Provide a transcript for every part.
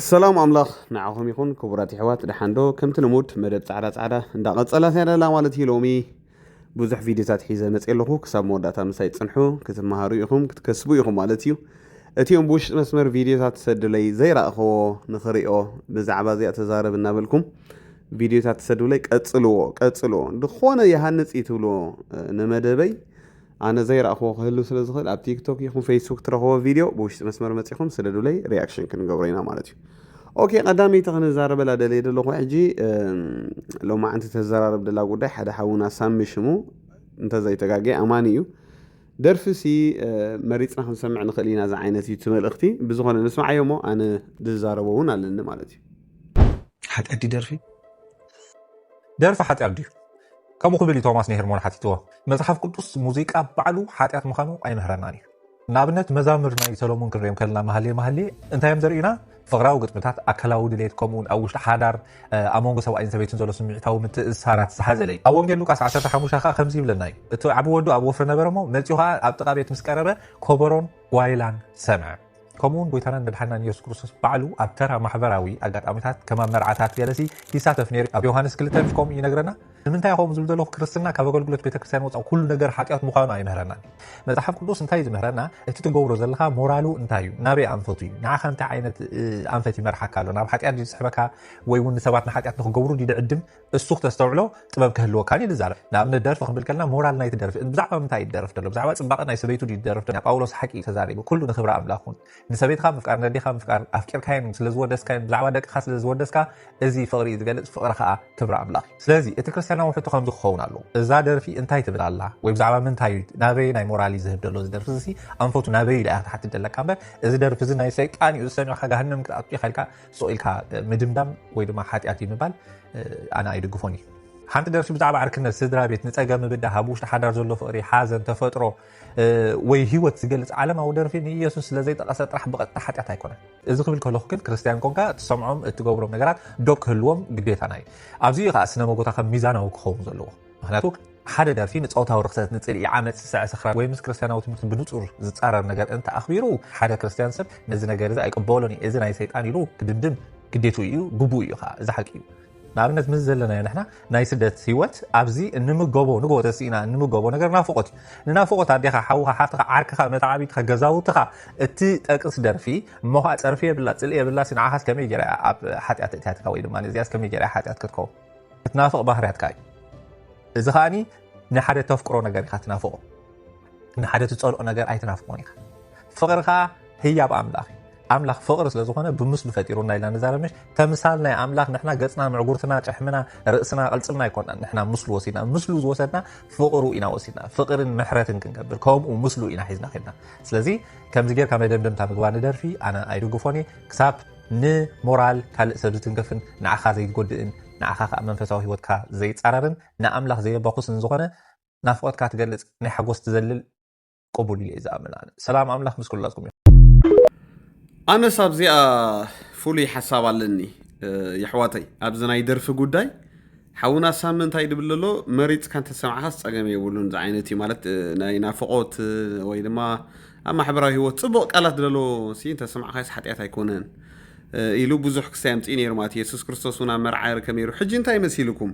ሰላም ኣምላኽ ንዓኹም ይኹን ክቡራት ይሕዋት ደሓንዶ ከምቲ ልሙድ መደብ ጻዕዳ ጻዕዳ እንዳቐጸላ ያለላ ማለት እዩ ሎሚ ብዙሕ ቪድዮታት ሒዘ መፅ ኣለኹ ክሳብ መወዳእታ ምሳይ ፅንሑ ክትመሃሩ ኢኹም ክትከስቡ ኢኹም ማለት እዩ እቲኦም ብውሽጢ መስመር ቪድዮታት ትሰዱለይ ዘይረእኸዎ ንኽሪኦ ብዛዕባ እዚኣ ተዛረብ እናበልኩም ቪድዮታት ትሰዱለይ ቀፅልዎ ቀፅልዎ ዝኾነ ይሃንፅ እዩ ትብልዎ ንመደበይ ኣነ ዘይረኣኽዎ ክህሉ ስለ ዝኽእል ኣብ ቲክቶክ ይኹን ፌስቡክ ትረኽቦ ቪድዮ ብውሽጢ መስመር መፂኹም ስደዱለይ ሪያክሽን ክንገብሮ ኢና ማለት እዩ ኦኬ ቀዳመይቲ ክንዛረበላ ደልየ ደለኹ ሕጂ ሎማዕንቲ ተዘራረብ ደላ ጉዳይ ሓደ ሓውና ሳሚ ሽሙ እንተዘይተጋገ ኣማኒ እዩ ደርፊ ሲ መሪፅና ክንሰምዕ ንኽእል ኢና እዚ ዓይነት እዩ እቲ መልእኽቲ ብዝኾነ ንስምዓዮ እሞ ኣነ ዝዛረቦ እውን ኣለኒ ማለት እዩ ሓጢኣት ደርፊ ደርፊ ሓጢኣት ድዩ ከምኡ ክብል እዩ ቶማስ ንሄርሞን ሓቲትዎ። መጽሓፍ ቅዱስ ሙዚቃ ባዕሉ ሓጢኣት ምዃኑ ኣይምህረናን እዩ። ንኣብነት መዛምር ናይ ሰሎሞን ክንሪኦም ከለና መሃሌ መሃሌ እንታይ እዮም ዘርእዩና? ፍቕራዊ ግጥምታት፣ ኣካላዊ ድሌት፣ ከምኡውን ኣብ ውሽጢ ሓዳር ኣብ መንጎ ሰብኣይን ሰበይትን ዘሎ ስምዒታዊ ምትእስሳራት ዝሓዘለ እዩ። ኣብ ወንጌል ሉቃስ ዓሰርተ ሓሙሽተ ከኣ ከምዚ ይብለና እዩ፣ እቲ ዓቢ ወዱ ኣብ ወፍሪ ነበረ እሞ፣ መጺኡ ኸኣ ኣብ ጥቓ ቤት ምስ ቀረበ፣ ኮበሮን ጓይላን ሰምዐ። ከምኡውን ጎይታናን መድሓናን የሱስ ክርስቶስ ባዕሉ ኣብ ተራ ማሕበራዊ ኣጋጣሚታት ከማብ መርዓታት ገለሲ ይሳተፍ ነይሩ ኣብ ዮሃንስ ክልተ ምስ ከምኡ ይነግረና ንምንታይ ከምኡ ዝብል ዘለኹ ክርስትና ካብ ኣገልግሎት ቤተ ክርስትያን ወፃእ ኩሉ ነገር ሓጢኣት ምዃኑ ኣይምህረናን መፅሓፍ ቅዱስ እንታይ እዩ ዝምህረና እቲ ትገብሮ ዘለካ ሞራሉ እንታይ እዩ ናበይ ኣንፈቱ እዩ ንዓኻ እንታይ ዓይነት ኣንፈት ይመርሓካ ኣሎ ናብ ሓጢኣት ዝስሕበካ ወይ እውን ንሰባት ንሓጢኣት ንክገብሩ ድዕድም እሱ ክተስተውዕሎ ጥበብ ክህልወካ ድዩ ዝዛረብ ንኣብነት ደርፊ ክንብል ከለና ሞራል ናይቲ ደርፊ ብዛዕባ ምንታይ ይደርፍ ደሎ ብዛዕባ ጽባቐ ናይ ሰበይቱ ድዩ ዝደርፍ ደሎ ጳውሎስ ሓቂ እዩ ተዛሪቡ ኩሉ ንክብሪ ኣምላኽ ኩን ንሰበይትኻ ምፍቃር ነዴኻ ምፍቃር ኣፍቂርካዮም ስለ ዝወደስካዮም ብዛዕባ ደቅኻ ስለ ዝወደስካ እዚ ፍቕሪ እዩ ዝገልጽ ፍቕሪ ከኣ ክብሪ ኣምላኽ እዩ ስለዚ እቲ ክርስትያናዊ ሕቶ ከምዚ ክኸውን ኣለዎ እዛ ደርፊ እንታይ ትብል ኣላ ወይ ብዛዕባ ምንታይ እዩ ናበይ ናይ ሞራል እዩ ዝህብ ደሎ እዚ ደርፊ እዚ ኣንፈቱ ናበይ ኢላ ክትሓትት ደለካ እምበር እዚ ደርፊ እዚ ናይ ሰይጣን እዩ ዝሰሚዕካ ጋሃንም ክትኣቱ ኢኻ ኢልካ ሱቕ ኢልካ ምድምዳም ወይ ድማ ሓጢኣት እዩ ምባል ኣነ ኣይድግፎን እዩ ሓንቲ ደርፊ ብዛዕባ ዕርክነት ስድራ ቤት ንፀገም ምብዳህ ኣብ ውሽጢ ሓዳር ዘሎ ፍቕሪ ሓዘን ተፈጥሮ ወይ ሂወት ዝገልፅ ዓለማዊ ደርፊ ንኢየሱስ ስለዘይጠቐሰ ጥራሕ ብቐጥታ ሓጢኣት ኣይኮነን እዚ ክብል ከለኹ ግን ክርስትያን ኮንካ እትሰምዖም እትገብሮም ነገራት ዶብ ክህልዎም ግዴታና እዩ ኣብዚ እዩ ከዓ ስነ መጎታ ከም ሚዛናዊ ክኸውን ዘለዎ ምኽንያቱ ሓደ ደርፊ ንጾታዊ ርኽሰት፣ ንጽልኢ፣ ዓመጽ፣ ስሰዐ፣ ስኽራን ወይ ምስ ክርስትያናዊ ትምህርቲ ብንጹር ዝጻረር ነገር እንተ ኣኽቢሩ፣ ሓደ ክርስትያን ሰብ ነዚ ነገር እዚ ኣይቅበሎን እየ፣ እዚ ናይ ሰይጣን ኢሉ ክድምድም ግዴትኡ እዩ፣ ግቡኡ እዩ ኸኣ። እዚ ሓቂ እዩ። ንኣብነት ምስዚ ዘለናዮ ንሕና ናይ ስደት ህይወት ኣብዚ እንምገቦ ንግሆ ተሲእና እንምገቦ ነገር ናፍቖት እዩ። ንናፍቖት ኣዴኻ፣ ሓውኻ፣ ሓፍትኻ፣ ዓርክኻ፣ መተዓብይትኻ፣ ገዛውትኻ እትጠቅስ ደርፊ እሞ ኸኣ ጸርፊ የብላ ጽልኢ የብላሲ ንዓኻስ ከመይ ጌራ እያ ኣብ ሓጢኣት እትያትካ ወይ ድማ እዚኣስ ከመይ ጌራ እያ ሓጢኣት ክትከውን። ክትናፍቕ ባህርያትካ እዩ እዚ ከኣ ንሓደ ተፍቅሮ ነገር ኢኻ ትናፍቆ ንሓደ ትፀልኦ ነገር ኣይትናፍቆን ኢኻ ፍቕሪ ከዓ ህያብ ኣምላኽ እዩ ኣምላኽ ፍቕሪ ስለ ዝኾነ ብምስሉ ፈጢሩና ኢልና ንዛረብሽ ተምሳል ናይ ኣምላኽ ንሕና ገፅና ምዕጉርትና ጨሕምና ርእስና ቅልፅምና ኣይኮናን ንሕና ምስሉ ወሲድና ምስሉ ዝወሰድና ፍቕሩ ኢና ወሲድና ፍቕርን ምሕረትን ክንገብር ከምኡ ምስሉ ኢና ሒዝና ከድና ስለዚ ከምዚ ጌርካ መደምደምታ ምግባር ንደርፊ ኣነ ኣይድግፎን እየ ክሳብ ንሞራል ካልእ ሰብ ዝትንከፍን ንዓኻ ዘይጎድእን ንዓኻ ከኣ መንፈሳዊ ህይወትካ ዘይጻረርን ንኣምላኽ ዘየባኹስን ዝኾነ ናፍቖትካ ትገልጽ ናይ ሓጎስ ትዘልል ቅቡል ኢለ እየ ዝኣምን ኣነ። ሰላም ኣምላኽ ምስ ኩላትኩም ይኹን። ኣነስ ኣብዚኣ ፍሉይ ሓሳብ ኣለኒ የሕዋተይ ኣብዚ ናይ ደርፊ ጉዳይ ሓውና ሳሚ እንታይ ድብል ኣሎ መሪጽካ እንተሰምዓኻስ ጸገም የብሉን ዝዓይነት እዩ ማለት ናይ ናፍቆት ወይ ድማ ኣብ ማሕበራዊ ህይወት ጽቡቕ ቃላት ደሎ ሲ እንተሰምዓኻስ ሓጢኣት ኣይኮነን ኢሉ ብዙሕ ክስታይ ኣምጽኡ ነይሩ ማለት የሱስ ክርስቶስ እውን ኣብ መርዓ ይርከብ ነይሩ ሕጂ እንታይ መሲልኩም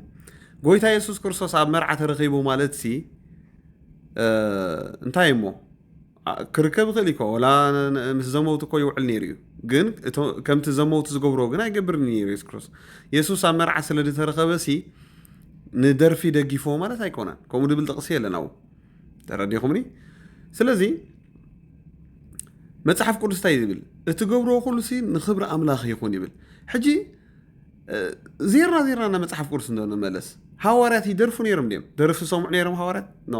ጎይታ የሱስ ክርስቶስ ኣብ መርዓ ተረኺቡ ማለት ሲ እንታይ እሞ ክርከብ ይኽእል እዩ ወላ ምስ ዘመውቲ እኮ ይውዕል ነይሩ እዩ ግን ከምቲ ዘመውቲ ዝገብርዎ ግን ኣይገብርን ነይሩ የሱስ ክርስቶስ የሱስ ኣብ መርዓ ስለ ዝተረኸበ ሲ ንደርፊ ደጊፍዎ ማለት ኣይኮነን ከምኡ ድብል ጥቕሲ የለን ኣብኡ ተረዲኹምኒ ስለዚ መፅሓፍ ቅዱስ እንታይ ዝብል እቲ ገብርዎ ኩሉ ሲ ንክብሪ ኣምላኽ ይኹን ይብል ሕጂ ዜርና ዜርና ና መፅሓፍ ቅዱስ እንዶ ንመለስ ሃዋርያት ይደርፉ ነይሮም ድም ደርፊ ዝሰምዑ ነይሮም ሃዋርያት ኖ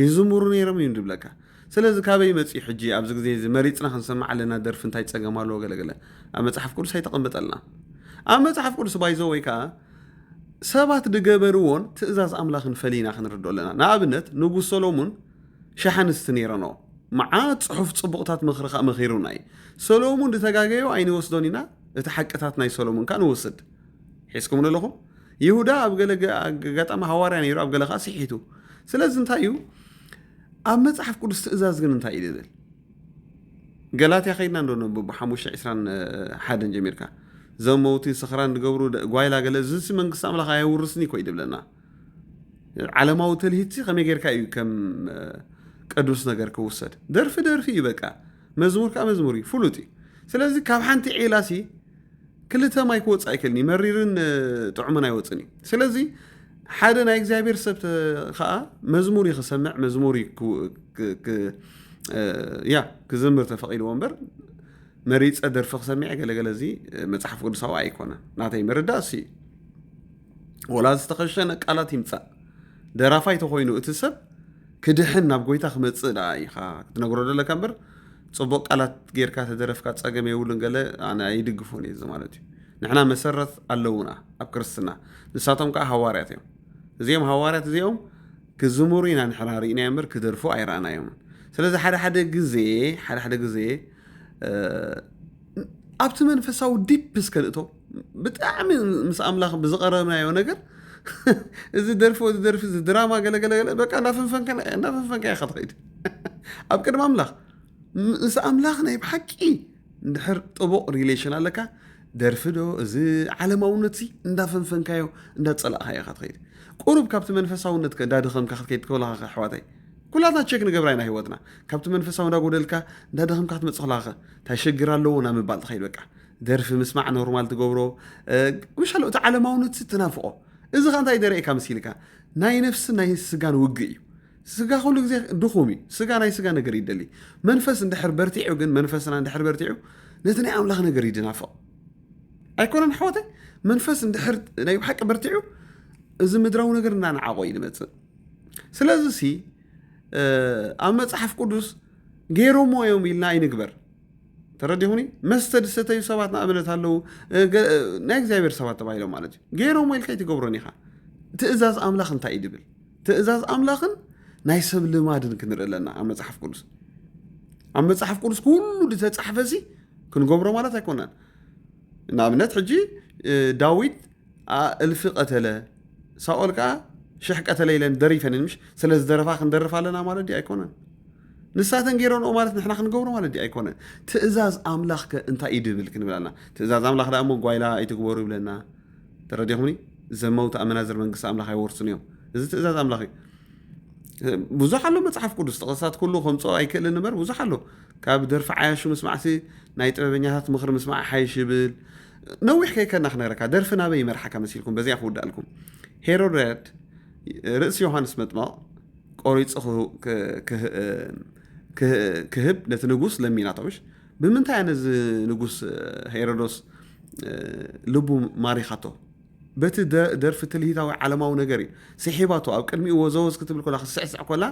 ይዝምሩ ነይሮም እዩ ዝብለካ ስለዚ ካበይ መፅዩ ሕጂ ኣብዚ ግዜ እዚ መሪፅና ክንሰምዕ ኣለና ደርፊ እንታይ ፀገም ኣለዎ ገለገለ ኣብ መፅሓፍ ቅዱስ ኣይተቐመጠልና ኣብ መፅሓፍ ቅዱስ ባይዞ ወይ ከዓ ሰባት ዝገበርዎን ትእዛዝ ኣምላኽን ፈሊና ክንርድኦ ኣለና ንኣብነት ንጉስ ሰሎሙን ሸሕ ኣንስቲ ነይረኖ መዓት ፅሑፍ ፅቡቕታት ምኽሪ ከዓ መኺሩና እዩ ሰሎሙን ዝተጋገዮ ኣይንወስዶን ኢና እቲ ሓቅታት ናይ ሰሎሙን ከዓ ንወስድ ሒዝኩም ኣለኹም ይሁዳ ኣብ ገለ ኣጋጣሚ ሃዋርያ ነይሩ ኣብ ገለ ከዓ ስሒቱ ስለዚ እንታይ እዩ ኣብ መፅሓፍ ቅዱስ ትእዛዝ ግን እንታይ እዩ ዝብል ገላትያ ከይድና እንዶ ነብብ ሓሙሽተ ዕስራን ሓደን ጀሚርካ ዘመውቲ ስኽራን ዝገብሩ ጓይላ ገለ ዝሲ መንግስቲ ኣምላኽ ኣየውርስኒ ኮይ ድብለና ዓለማዊ ትልሂትሲ ከመይ ጌርካ እዩ ከም ቅዱስ ነገር ክውሰድ ደርፊ ደርፊ እዩ በቃ መዝሙር ከዓ መዝሙር እዩ ፍሉጥ እዩ ስለዚ ካብ ሓንቲ ዒላ ሲ ክልተ ማይ ክወፅ ኣይክእልኒ መሪርን ጥዑምን ኣይወፅን እዩ ስለዚ ሓደ ናይ እግዚኣብሔር ሰብ ከዓ መዝሙር እዩ ክሰምዕ መዝሙር ያ ክዝምር ተፈቂድዎ እምበር መሪፀ ደርፊ ክሰሚዐ ገለገለ እዚ መፅሓፍ ቅዱሳዊ ኣይኮነን ናተይ ምርዳእ እሱ እዩ ወላ ዝተኸሸነ ቃላት ይምፃእ ደራፋይ ተኾይኑ እቲ ሰብ ክድሕን ናብ ጎይታ ክመፅእ ደኣ ኢኻ ክትነግሮ ዘለካ እምበር ፅቡቅ ቃላት ጌርካ ተደረፍካ ፀገም የብሉን ገለ ኣነ ኣይድግፎን እዩ እዚ ማለት እዩ ንሕና መሰረት ኣለውና ኣብ ክርስትና ንሳቶም ከዓ ሃዋርያት እዮም እዚኦም ሃዋርያት እዚኦም ክዝምሩ ኢና ንሕና ርኢናዮ እምበር ክደርፉ ኣይረኣናዮም ስለዚ ሓደ ሓደ ግዜ ሓደ ሓደ ግዜ ኣብቲ መንፈሳዊ ዲፕ እስከ ንእቶ ብጣዕሚ ምስ ኣምላኽ ብዝቐረብናዮ ነገር እዚ ደርፊ እዚ ደርፊ እዚ ድራማ ገለገለ በቃ እንዳፈንፈንከና እንዳፈንፈንካ ኢኻ ትኸይድ ኣብ ቅድሚ ኣምላኽ ምስ ኣምላኽ ናይ ብሓቂ እንድሕር ጥቡቕ ሪሌሽን ኣለካ ደርፊ ዶ እዚ ዓለማውነት ሲ እንዳፈንፈንካዮ እንዳፀላእካዮ ኢኻ ትኸይድ ቁሩብ ካብቲ መንፈሳውነት እንዳደኸምካ ክትከይድ ከለካ ኣሕዋተይ ኩላትና ቸክ ንገብራ ኢና ሂወትና ካብቲ መንፈሳዊ እንዳጎደልካ እንዳደኸምካ ክትመፅእ ከለካ እንታይ ሸግር ኣለዎ ናብ ምባል ትኸይድ በቃ ደርፊ ምስማዕ ኖርማል ትገብሮ ምሻሎ እቲ ዓለማውነት ትናፍቆ እዚ ከ እንታይ ደርእካ መሲልካ ናይ ነፍስን ናይ ስጋን ውግእ እዩ ስጋ ኩሉ ግዜ ድኹም እዩ ስጋ ናይ ስጋ ነገር ይደሊ መንፈስ እንድሕር በርቲዑ ግን መንፈስና እንድሕር በርቲዑ ነቲ ናይ ኣምላኽ ነገር ይድናፍቕ ኣይኮነን ኣሕዋተይ መንፈስ እንድሕር ናይ ብሓቂ በርቲዑ እዚ ምድራዊ ነገር እናንዓቆ እዩ ዝመፅእ ስለዚ ሲ ኣብ መፅሓፍ ቅዱስ ገይሮሞ እዮም ኢልና ኣይንግበር ተረዲኹኒ መስተ ዝሰተዩ ሰባት ንኣብነት ኣለዉ ናይ እግዚኣብሔር ሰባት ተባሂሎም ማለት እዩ ገይሮም ኢልካ ኣይትገብሮን ኢኻ ትእዛዝ ኣምላኽ እንታይ እዩ ድብል ትእዛዝ ኣምላኽን ናይ ሰብ ልማድን ክንርኢ ኣለና ኣብ መፅሓፍ ቅዱስ ኣብ መፅሓፍ ቅዱስ ኩሉ ዝተፃሕፈ ሲ ክንገብሮ ማለት ኣይኮነን ንኣብነት ሕጂ ዳዊት ኣኣ እልፊ ቀተለ ሳኦል ከኣ ሽሕ ቀተለ ኢለን ደሪፈንን ምሽ ስለ ዝደረፋ ክንደርፍ ኣለና ማለት ድዩ ኣይኮነን ንሳተን ገይረንኦ ማለት ንሕና ክንገብሮ ማለት ድዩ ኣይኮነን ትእዛዝ ኣምላኽ ከ እንታይ እዩ ድብል ክንብል ኣለና ትእዛዝ ኣምላኽ ደኣ እሞ ጓይላ ኣይትግበሩ ይብለና ተረዲኹምኒ ዘመውቲ ኣመናዝር መንግስቲ ኣምላኽ ኣይወርስን እዮም እዚ ትእዛዝ ኣምላኽ እዩ ብዙሕ ኣሎ መፅሓፍ ቅዱስ ጥቕስታት ኩሉ ከምፅኦ ኣይክእልን እምበር ብዙሕ ኣሎ ካብ ደርፊ ዓያሹ ምስማዕሲ ናይ ጥበበኛታት ምኽሪ ምስማዕ ሓይሽ ይብል ነዊሕ ከይከና ክነግረካ ደርፊ ናበይ ይመርሓካ መሲልኩም በዚኣ ክውዳእልኩም ሄሮደድ ርእሲ ዮሃንስ መጥመቕ ቆሪፁ ክህብ ነቲ ንጉስ ለሚናቶሽ ብምንታይ እያ ነዚ ንጉስ ሄሮዶስ ልቡ ማሪኻቶ በቲ ደርፊ ትልሂታዊ ዓለማዊ ነገር እዩ ስሒባቶ ኣብ ቅድሚኡ ወዘወዝ ክትብል ኮላ ክስዕስዕ ኮላ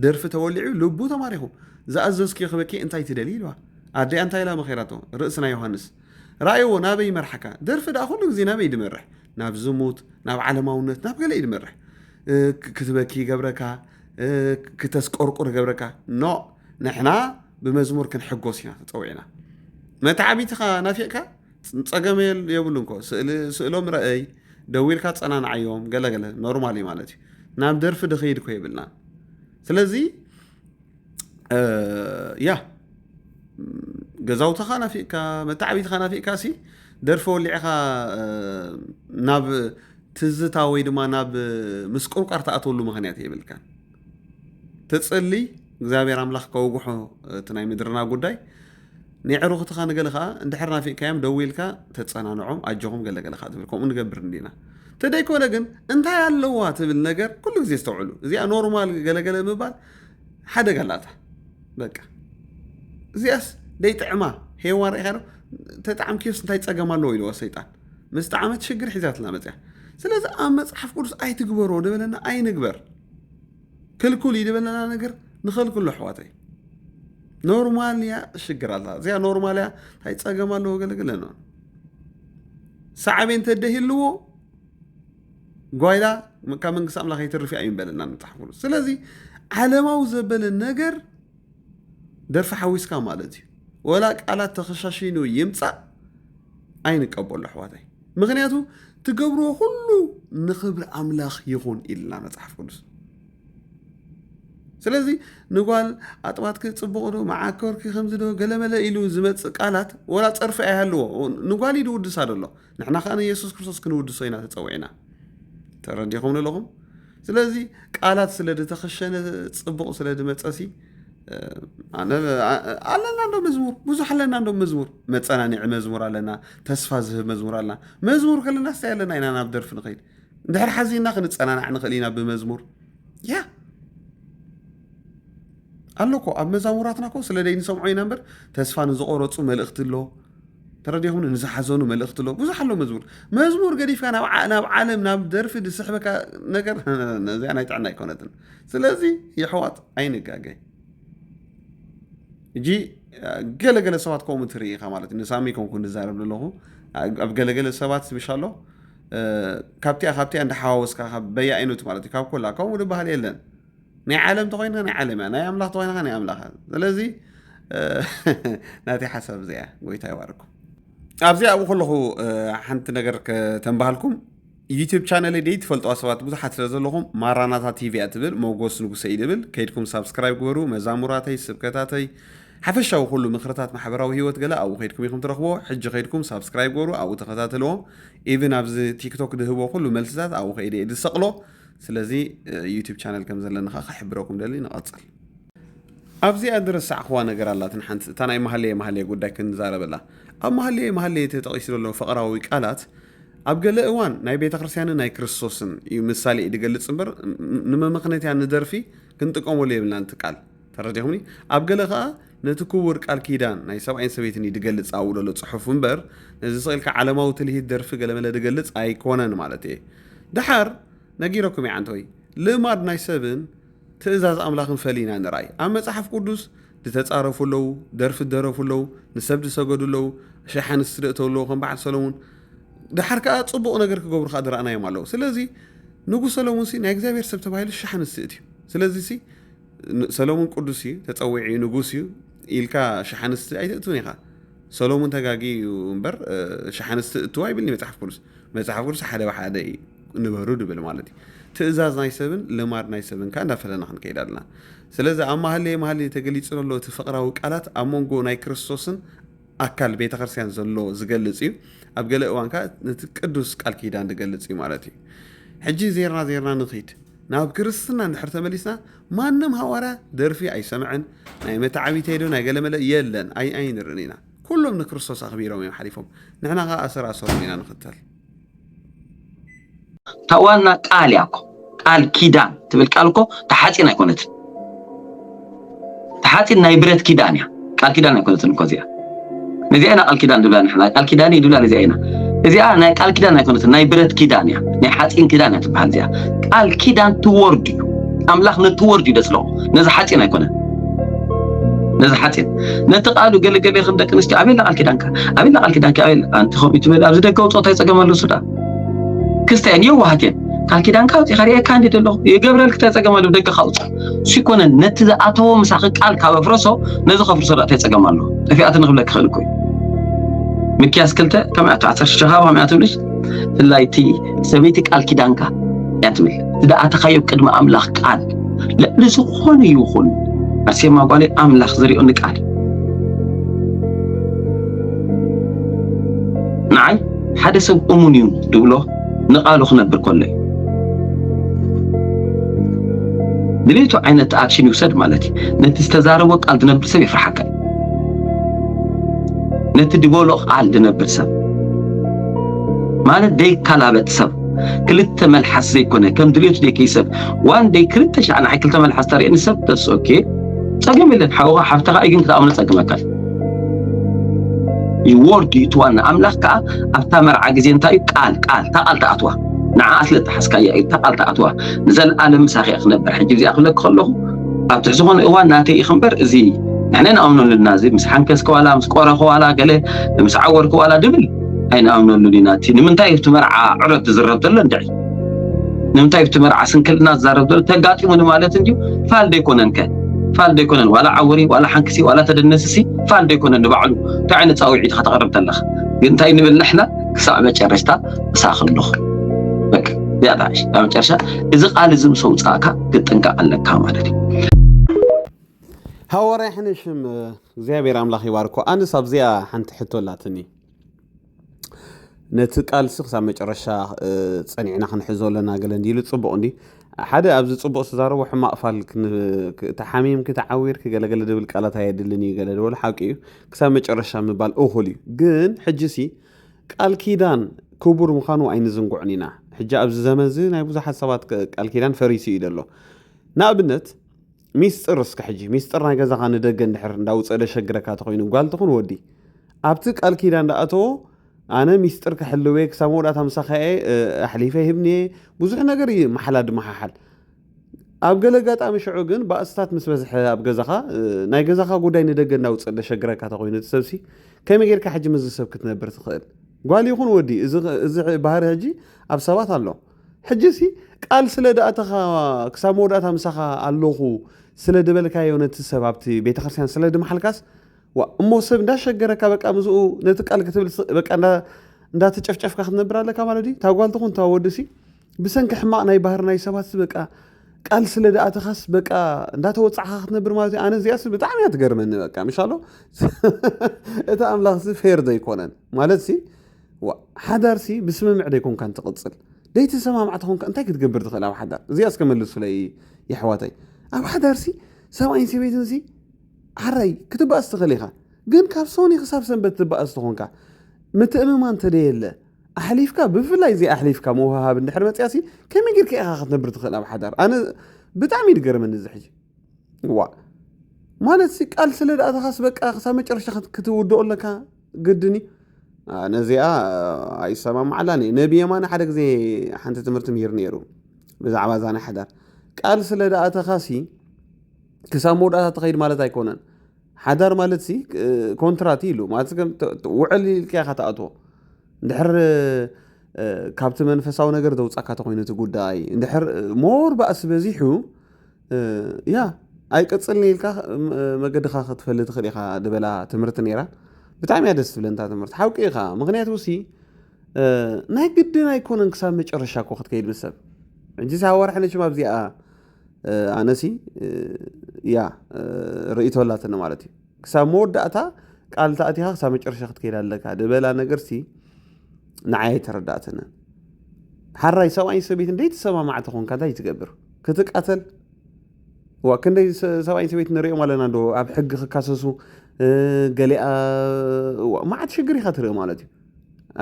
ደርፊ ተወሊዑ ልቡ ተማሪኹ ዝኣዘዝክዮ ክበኪ እንታይ ትደሊ ኢልዋ ኣዲኣ እንታይ ኢላ መኸራቶ ርእሲ ናይ ዮሃንስ ራእይዎ ናበይ ይመርሓካ ደርፊ ደኣ ኩሉ ግዜ ናበይ ድመርሕ ናብ ዝሙት ናብ ዓለማውነት ናብ ገለ እዩ ድመርሕ ክትበኪ ይገብረካ ክተስቆርቁር ይገብረካ ኖ ንሕና ብመዝሙር ክንሕጎስ ኢና ተፀዊዕና መተዓቢትኻ ናፊቕካ ፀገመ የብሉ እንኮ ስእሎም ረአይ ደዊልካ ፀናንዓዮም ገለገለ ኖርማል እዩ ማለት እዩ ናብ ደርፊ ድኸይድ ኮ የብልና ስለዚ ያ ገዛውትኻ ናፊቕካ መታዕቢትኻ ናፊቕካ ሲ ደርፊ ወሊዕኻ ናብ ትዝታ ወይ ድማ ናብ ምስቁርቋር ትኣትወሉ ምክንያት የብልካ ተፅሊ እግዚኣብሔር ኣምላኽ ከውግሖ እቲ ናይ ምድርና ጉዳይ ንየዕሩኽትኻ ንገለ ከኣ እንድሕር ናፊቕካዮም ደዊልካ ተጸናንዖም ኣጆኹም ገለ ገለ ከኣ ትብል ከምኡ ንገብር እንዲና ተደይኮነ ግን እንታይ ኣለዋ ትብል ነገር ኩሉ ግዜ ዝተውዕሉ እዚኣ ኖርማል ገለገለ ምባል ሓደጋ ኣላታ በቃ እዚኣስ ደይጥዕማ ሄዋ ርኢኻ ዶ ተጣዕምክዮስ እንታይ ፀገም ኣለዎ ኢልዎ ሰይጣን ምስ ጣዕመት ሽግር ሒዛትና መፅያ ስለዚ ኣብ መፅሓፍ ቅዱስ ኣይትግበሮ ደበለና ኣይንግበር ክልኩል እዩ ዝበለና ነገር ንኸልክሎ ኣሕዋተይ ኖርማል እያ ሽግር ኣላ እዚኣ ኖርማል እያ እንታይ ፀገም ኣለዎ ገለገለ ነ ሳዕቤን ተደሂልዎ ጓይላ ካብ መንግስቲ ኣምላኽ ይትርፍ እያ እዩ በለና ንፅሓፍሉ ስለዚ ዓለማዊ ዘበለ ነገር ደርፊ ሓዊስካ ማለት እዩ ወላ ቃላት ተኸሻሺኑ ይምፃእ ኣይንቀበሉ ኣሕዋታይ ምክንያቱ ትገብርዎ ኩሉ ንክብሪ ኣምላኽ ይኹን ኢልና መፅሓፍ ቅዱስ ስለዚ ንጓል ኣጥባትኪ ፅቡቕ ዶ መዓኮርኪ ከምዚ ዶ ገለመለ ኢሉ ዝመፅእ ቃላት ወላ ፀርፊ ኣይሃልዎ ንጓል እዩ ድውድሳ ደሎ ንሕና ከዓ ንየሱስ ክርስቶስ ክንውድሶ ኢና ተፀዊዕና ተረዲኹም ኣለኹም ስለዚ ቃላት ስለ ዝተኸሸነ ፅቡቕ ስለ ዝመፀሲ ኣለና እንዶ መዝሙር ብዙሕ ኣለና እንዶ መዝሙር መፀናኒዒ መዝሙር ኣለና ተስፋ ዝህብ መዝሙር ኣለና መዝሙር ከለና ስታይ ኣለና ኢና ናብ ደርፊ ንኸይድ እንድሕር ሓዚና ክንፀናናዕ ንኽእል ኢና ብመዝሙር ያ ኣሎ ኮ ኣብ መዛሙራትና ኮ ስለ ዘይንሰምዖ ኢና እምበር ተስፋ ንዝቆረፁ መልእኽቲ ኣሎ ተረዲኹምኒ ንዝሓዘኑ መልእኽቲ ኣሎ ብዙሕ ኣሎ መዝሙር መዝሙር ገዲፍካ ናብ ዓለም ናብ ደርፊ ዝስሕበካ ነገር እዚኣ ናይ ጥዕና ኣይኮነትን ስለዚ የሕዋት ኣይንጋገ እጂ ገለገለ ሰባት ከምኡ ትርኢ ኢኻ ማለት እዩ ንሳሚ ከምኩ ንዛረብ ዘለኹ ኣብ ገለገለ ሰባት ስብሻ ኣሎ ካብቲኣ ካብቲኣ እንዳሓዋወስካ በየ ዓይነቱ ማለት እዩ ካብ ኮላ ከምኡ ዝበሃል የለን ናይ ዓለም ተኮይንካ ናይ ዓለም እያ ናይ ኣምላኽ ተኮይንካ ናይ ኣምላኽ እያ ስለዚ ናተይ ሓሳብ እዚኣ ጎይታ ይባርኩም ኣብዚ ኣብኡ ከለኹ ሓንቲ ነገር ከተንባሃልኩም ዩቲብ ቻነል ደይ ትፈልጥዋ ሰባት ብዙሓት ስለ ዘለኹም ማራናታ ቲቪ እያ ትብል መጎስ ንጉሰ እዩ ዝብል ከይድኩም ሳብስክራይብ ግበሩ መዛሙራተይ ስብከታተይ ሓፈሻዊ ኩሉ ምክርታት ማሕበራዊ ሂወት ገለ ኣብኡ ከይድኩም ኢኹም ትረኽብዎ ሕጂ ከይድኩም ሳብስክራይብ ገበሩ ኣብኡ ተኸታተልዎ ኢቭን ኣብዚ ቲክቶክ ድህቦ ኩሉ መልስታት ኣብኡ ከይደ ዝሰቕሎ ስለዚ ዩቱብ ቻነል ከም ዘለኒ ከኣ ክሕብረኩም ደሊ ንቐጽል። ኣብዚኣ ዝረሳዕክዋ ነገር ኣላትን ሓንቲ እታ ናይ ማህለየ ማህለየ ጉዳይ ክንዛረበላ ኣብ ማህለየ ማህለየ እቲ ተጠቂሱ ዘሎ ፍቕራዊ ቃላት ኣብ ገለ እዋን ናይ ቤተ ክርስቲያንን ናይ ክርስቶስን እዩ ምሳሌ ድገልጽ እምበር ንመመኽነትያ ንደርፊ ክንጥቀመሉ የብልናን እቲ ቃል ተረዲኹምኒ? ኣብ ገለ ከኣ ነቲ ክቡር ቃል ኪዳን ናይ ሰብኣይን ሰበይትን እዩ ድገልጽ ኣብኡ ለሎ ጽሑፍ እምበር ነዚ ስቅ ኢልካ ዓለማዊ ትልሂት ደርፊ ገለመለ ድገልጽ ኣይኮነን ማለት እየ ደሓር ነጊረኩም እየ ዓንተወይ ልማድ ናይ ሰብን ትእዛዝ ኣምላኽን ፈሊና ንርኣይ ኣብ መጽሓፍ ቅዱስ ድተጻረፉ ኣለዉ ደርፊ ደረፉ ኣለዉ ንሰብ ድሰገዱ ኣለዉ ሸሕ ኣንስቲ ደእተው ኣለዉ ከም በዓል ሰለሙን ድሓር ከዓ ፅቡቕ ነገር ክገብሩ ከዓ ድረኣናዮም ኣለዉ ስለዚ ንጉስ ሰለሙን ሲ ናይ እግዚኣብሔር ሰብ ተባሂሉ ሸሕ ኣንስቲ እትዩ ስለዚ ሲ ሰሎሙን ቅዱስ እዩ ተጸዊዑ እዩ ንጉስ እዩ ኢልካ ሸሓንስቲ ኣይትእትውን ኢኻ ሰሎሙን ተጋጊ እዩ እምበር ሸሓንስቲ እትዋ ይብልኒ መጽሓፍ ቅዱስ መጽሓፍ ቅዱስ ሓደ ብሓደ እዩ ንበሩ ድብል ማለት እዩ ትእዛዝ ናይ ሰብን ልማድ ናይ ሰብን ከዓ እንዳፈለና ክንከይድ ኣለና ስለዚ ኣብ ማህሌ ማህሌ ተገሊጹ ዘሎ እቲ ፍቕራዊ ቃላት ኣብ መንጎ ናይ ክርስቶስን ኣካል ቤተ ክርስቲያን ዘሎ ዝገልጽ እዩ። ኣብ ገለ እዋን ከኣ ነቲ ቅዱስ ቃል ኪዳን ዝገልጽ እዩ ማለት እዩ። ሕጂ ዜርና ዜርና ንኺድ። ናብ ክርስትና እንድሕር ተመሊስና ማንም ሃዋርያ ደርፊ ኣይሰምዐን፣ ናይ መተዓቢተይ ዶ ናይ ገለመለ የለን ኣይንርእን ኢና። ኩሎም ንክርስቶስ ኣኽቢሮም እዮም ሓሊፎም፣ ንሕና ከኣ ኣሰር ኣሰሮም ኢና ንኽተል። እታ ዋና ቃል እያ እኮ ቃል ኪዳን ትብል ቃል እኮ ተሓፂን ኣይኮነትን ተሓፂን ናይ ብረት ኪዳን እያ ቃል ኪዳን ኣይኮነትን እኮ እዚኣ ነዚኣ ኢና ቃል ኪዳን ንብላ ንሕና ቃል ኪዳን እዩ ንብላ ነዚኣ ኢና እዚኣ ናይ ቃል ኪዳን ኣይኮነትን ናይ ብረት ኪዳን እያ ናይ ሓፂን ኪዳን እያ ትበሃል እዚኣ ቃል ኪዳን ትወርድ እዩ ኣምላኽ ነቲ ወርድ እዩ ደፅለቑ ነዚ ሓጺን ኣይኮነን ነዚ ሓጺን ነቲ ቃሉ ገለ ገለ ከም ደቂ ኣንስትዮ ኣበየላ ቃል ኪዳንካ ኣበየላ ቃል ኪዳንካ ኣበየላ ኣንቲ ከምኡ ትብል ኣብዚ ደገ ውፅኦት ኣይፀገም ኣሎ ሱዳ ክስተየን የዋሃት እየን ቃል ኪዳንካ ኣውፂእካ ሪኤካ እንዲ ደለኹ የገብረልክ እንታይ ፀገም ኣለዎ ደገ ካውፅ እሱ ይኮነን ነቲ ዝኣተዎ ምሳኺ ቃል ካብ ኣፍረሶ ነዚ ከፍርሶ ዳ እንታይ ፀገም ኣለዎ ጠፊኣት ንክብለክ ይኽእል እኮ እዩ ምክያስ ክልተ ከመይ ኣቶ ዓሰርተ ሸኻባ ከመይ ትብልሽ ብፍላይ እቲ ሰበይቲ ቃል ኪዳንካ እያ ትብል ዝደኣተኻዮ ቅድሚ ኣምላኽ ቃል ልዕሊ ዝኾነ ይኹን ኣርሴማ ጓለይ ኣምላኽ ዝሪኦ ንቃል ንዓይ ሓደ ሰብ እሙን እዩ ድብሎ ንቃሉ ክነብር ከሎ እዩ ድሌቱ ዓይነት ኣክሽን ይውሰድ ማለት እዩ ነቲ ዝተዛረቦ ቃል ዝነብር ሰብ የፍርሓካ እዩ ነቲ ድበሎ ቃል ዝነብር ሰብ ማለት ዘይከላበት ሰብ ክልተ መልሓስ ዘይኮነ ከም ድሌቱ ዘይከይሰብ ዋን ደይ ክልተ ሻዕ ንዓይ ክልተ መልሓስ ተርእየኒ ሰብ ተስ ኦኬ ጸገም የለን ሓውኻ ሓፍትኻ እዩ ግን ክትኣምኖ ጸግመካ እዩ ወርድ እዩ ትዋና ኣምላኽ ከዓ ኣብታ መርዓ ግዜ እንታይ እዩ ቃል ቃል እታ ቃል ተኣትዋ ንዓ ስለ ተሓስካያ እዩ እታ ቃል ተኣትዋ ንዘለኣለም ምሳኺ እያ ክነበር ሕጂ እዚኣ ክብለኪ ከለኹ ኣብ ትሕቲ ዝኾነ እዋን ናተይ እዩ ክምበር እዚ ንሕና ንኣምነሉና እዚ ምስ ሓንከስኪ ዋላ ምስ ቆረኺ ዋላ ገለ ምስ ዓወርኪ ዋላ ድብል ኣይንኣምነሉን ኢና እቲ ንምንታይ ኣብቲ መርዓ ዕረት ዝዝረብ ዘሎ እንድዒ ንምንታይ ብቲ መርዓ ስንክልና ዝዛረብ ዘሎ ተጋጢሙኒ ማለት እንድዩ ፋል ዶ ኣይኮነን ከ ፋል ዶ ኣይኮነን ዋላ ዓውሪ ዋላ ሓንክሲ ዋላ ተደነስሲ ፋል ዶ ኣይኮነን ንባዕሉ እንታይ ዓይነት ፃውዒት ኢኻ ተቕርብ ዘለኻ ግን እንታይ ንብል ንሕና ክሳዕ መጨረሽታ ምሳኺ ኣለኹ በቃ እዚኣ ትዓይሽ ኣብ መጨረሻ እዚ ቃል እዚ ምስ ኣውፃእካ ክትጥንቀቕ ኣለካ ማለት እዩ ሃዋርያ ሕነሽም እግዚኣብሔር ኣምላኽ ይባርኮ ኣንስ ኣብዚኣ ሓንቲ ሕቶ ኣላትኒ ነቲ ቃልሲ ክሳብ መጨረሻ ጸኒዕና ክንሕዞ ኣለና ገለ እንዲሉ ጽቡቕ እንዲ ሓደ ኣብዚ ጽቡቕ ዝተዛረቦ ሕማቕ ፋል ተሓሚምኪ ተዓዊርኪ ገለገለ ዝብል ቃላት ኣየድልን እዩ ገለ ዝበሉ ሓቂ እዩ ክሳብ መጨረሻ ምባል እኹል እዩ ግን ሕጂ ሲ ቃል ኪዳን ክቡር ምዃኑ ኣይንዝንጉዕን ኢና ሕጂ ኣብዚ ዘመን እዚ ናይ ብዙሓት ሰባት ቃል ኪዳን ፈሪሱ እዩ ዘሎ ንኣብነት ሚስጥር እስከ ሕጂ ሚስጥር ናይ ገዛኻ ንደገ እንድሕር እንዳውፀ ደሸግረካ ተኮይኑ ጓል ትኹን ወዲ ኣብቲ ቃል ኪዳ እንዳኣተዎ ኣነ ሚስጥር ክሕልወ ክሳብ መወዳእታ ምሳኻ ኣሕሊፈ ሂብኒ ብዙሕ ነገር እዩ መሓላ ድመሓሓል ኣብ ገለ ኣጋጣሚ ሽዑ ግን ባእስታት ምስ በዝሐ ኣብ ገዛኻ ናይ ገዛኻ ጉዳይ ንደገ እንዳውፅእ ደሸግረካ ተኮይኑ እቲ ሰብሲ ከመይ ጌርካ ሕጂ ምስዚ ሰብ ክትነብር ትኽእል ጓል ይኹን ወዲ እዚ ባህሪ ሕጂ ኣብ ሰባት ኣሎ ሕጂሲ ቃል ስለ ድኣተኻ ክሳብ መወዳእታ ምሳኻ ኣለኹ ስለ ድበልካዮ ነቲ ሰብ ኣብቲ ቤተ ክርስቲያን ስለ ድመሓልካስ እሞ ሰብ እንዳሸገረካ በቃ ምዝኡ ነቲ ቃል ክትብል በቃ እንዳተጨፍጨፍካ ክትነብር ኣለካ ማለት እዩ ታጓል ትኹን ታወዲ ሲ ብሰንኪ ሕማቕ ናይ ባህር ናይ ሰባት በቃ ቃል ስለ ድኣተኻስ በቃ እንዳተወፃዕካ ክትነብር ማለት እዩ ኣነ እዚኣስ ብጣዕሚ እያ ትገርመኒ በቃ ምሻሎ እቲ ኣምላኽ ሲ ፌር ዘይኮነን ማለት ሲ ዋእ ሓዳርሲ ብስምምዕ ዶ ኣይኮንካን ትቅጽል ደይተሰማምዕ ተኾንካ እንታይ ክትገብር ትኽእል ኣብ ሓዳር እዚኣ እስከ መልሱለይ የሕዋተይ ኣብ ሓዳርሲ ሰብኣይን ሰበይትንሲ ሓራይ ክትባእስ ትኽእል ኢኻ ግን ካብ ሶኒ ክሳብ ሰንበት ትባእስ ተኾንካ ምትእምማን ተደየለ ኣሕሊፍካ ብፍላይ እዚ ኣሕሊፍካ ምውሃሃብ እንድሕር መፅያሲ ከመይ ጌርካ ኢኻ ክትነብር ትኽእል ኣብ ሓዳር ኣነ ብጣዕሚ እዩ ዝገርመኒ እዚ ሕጂ ዋ ማለት ቃል ስለ ደኣተኻስ በቃ ክሳብ መጨረሻ ክትውድኦ ኣለካ ግድን እዩ ነዚኣ ኣይሰማማዓላን እየ ነቢ የማነ ሓደ ግዜ ሓንቲ ትምህርቲ ምሂር ነይሩ ብዛዕባ እዛ ናይ ሓዳር ቃል ስለ ደኣተኻሲ ክሳብ መውዳእታ ተኸይድ ማለት ኣይኮነን ሓዳር ማለት ሲ ኮንትራት ኢሉ ማለት ውዕል ኢልካ ኢኻ ትኣትዎ እንድሕር ካብቲ መንፈሳዊ ነገር ዘውፃካ ተኮይኑ እቲ ጉዳይ እንድሕር ሞር ባእሲ በዚሑ ያ ኣይቅጽልኒ ኢልካ መገድኻ ክትፈሊ ትኽእል ኢኻ ዝበላ ትምህርቲ ነይራ ብጣዕሚ እያ ደስ ትብለንታ ትምህርቲ ሓውቂ ኢኻ ምክንያቱ ሲ ናይ ግድን ኣይኮነን ክሳብ መጨረሻ እኮ ክትከይድ ምስ ሰብ ሕጂ ሳብ ወርሒ ነችም ኣብዚኣ ኣነሲ ያ ርእቶ ኣላትኒ ማለት እዩ ክሳብ መወዳእታ ቃል ተኣቲኻ ክሳብ መጨረሻ ክትከይድ ኣለካ ድበላ ነገር ሲ ንዓይ ኣይተረዳእትንን ሓራይ ሰብኣይን ሰበይትን ደይተሰማማዕ ተኾንካ እንታይ ትገብር ክትቃተል ዋ ክንደይ ሰብኣይን ሰበይት ንሪኦም ኣለና ዶ ኣብ ሕጊ ክካሰሱ ገሊኣ መዓት ሽግር ኢኻ ትርኢ ማለት እዩ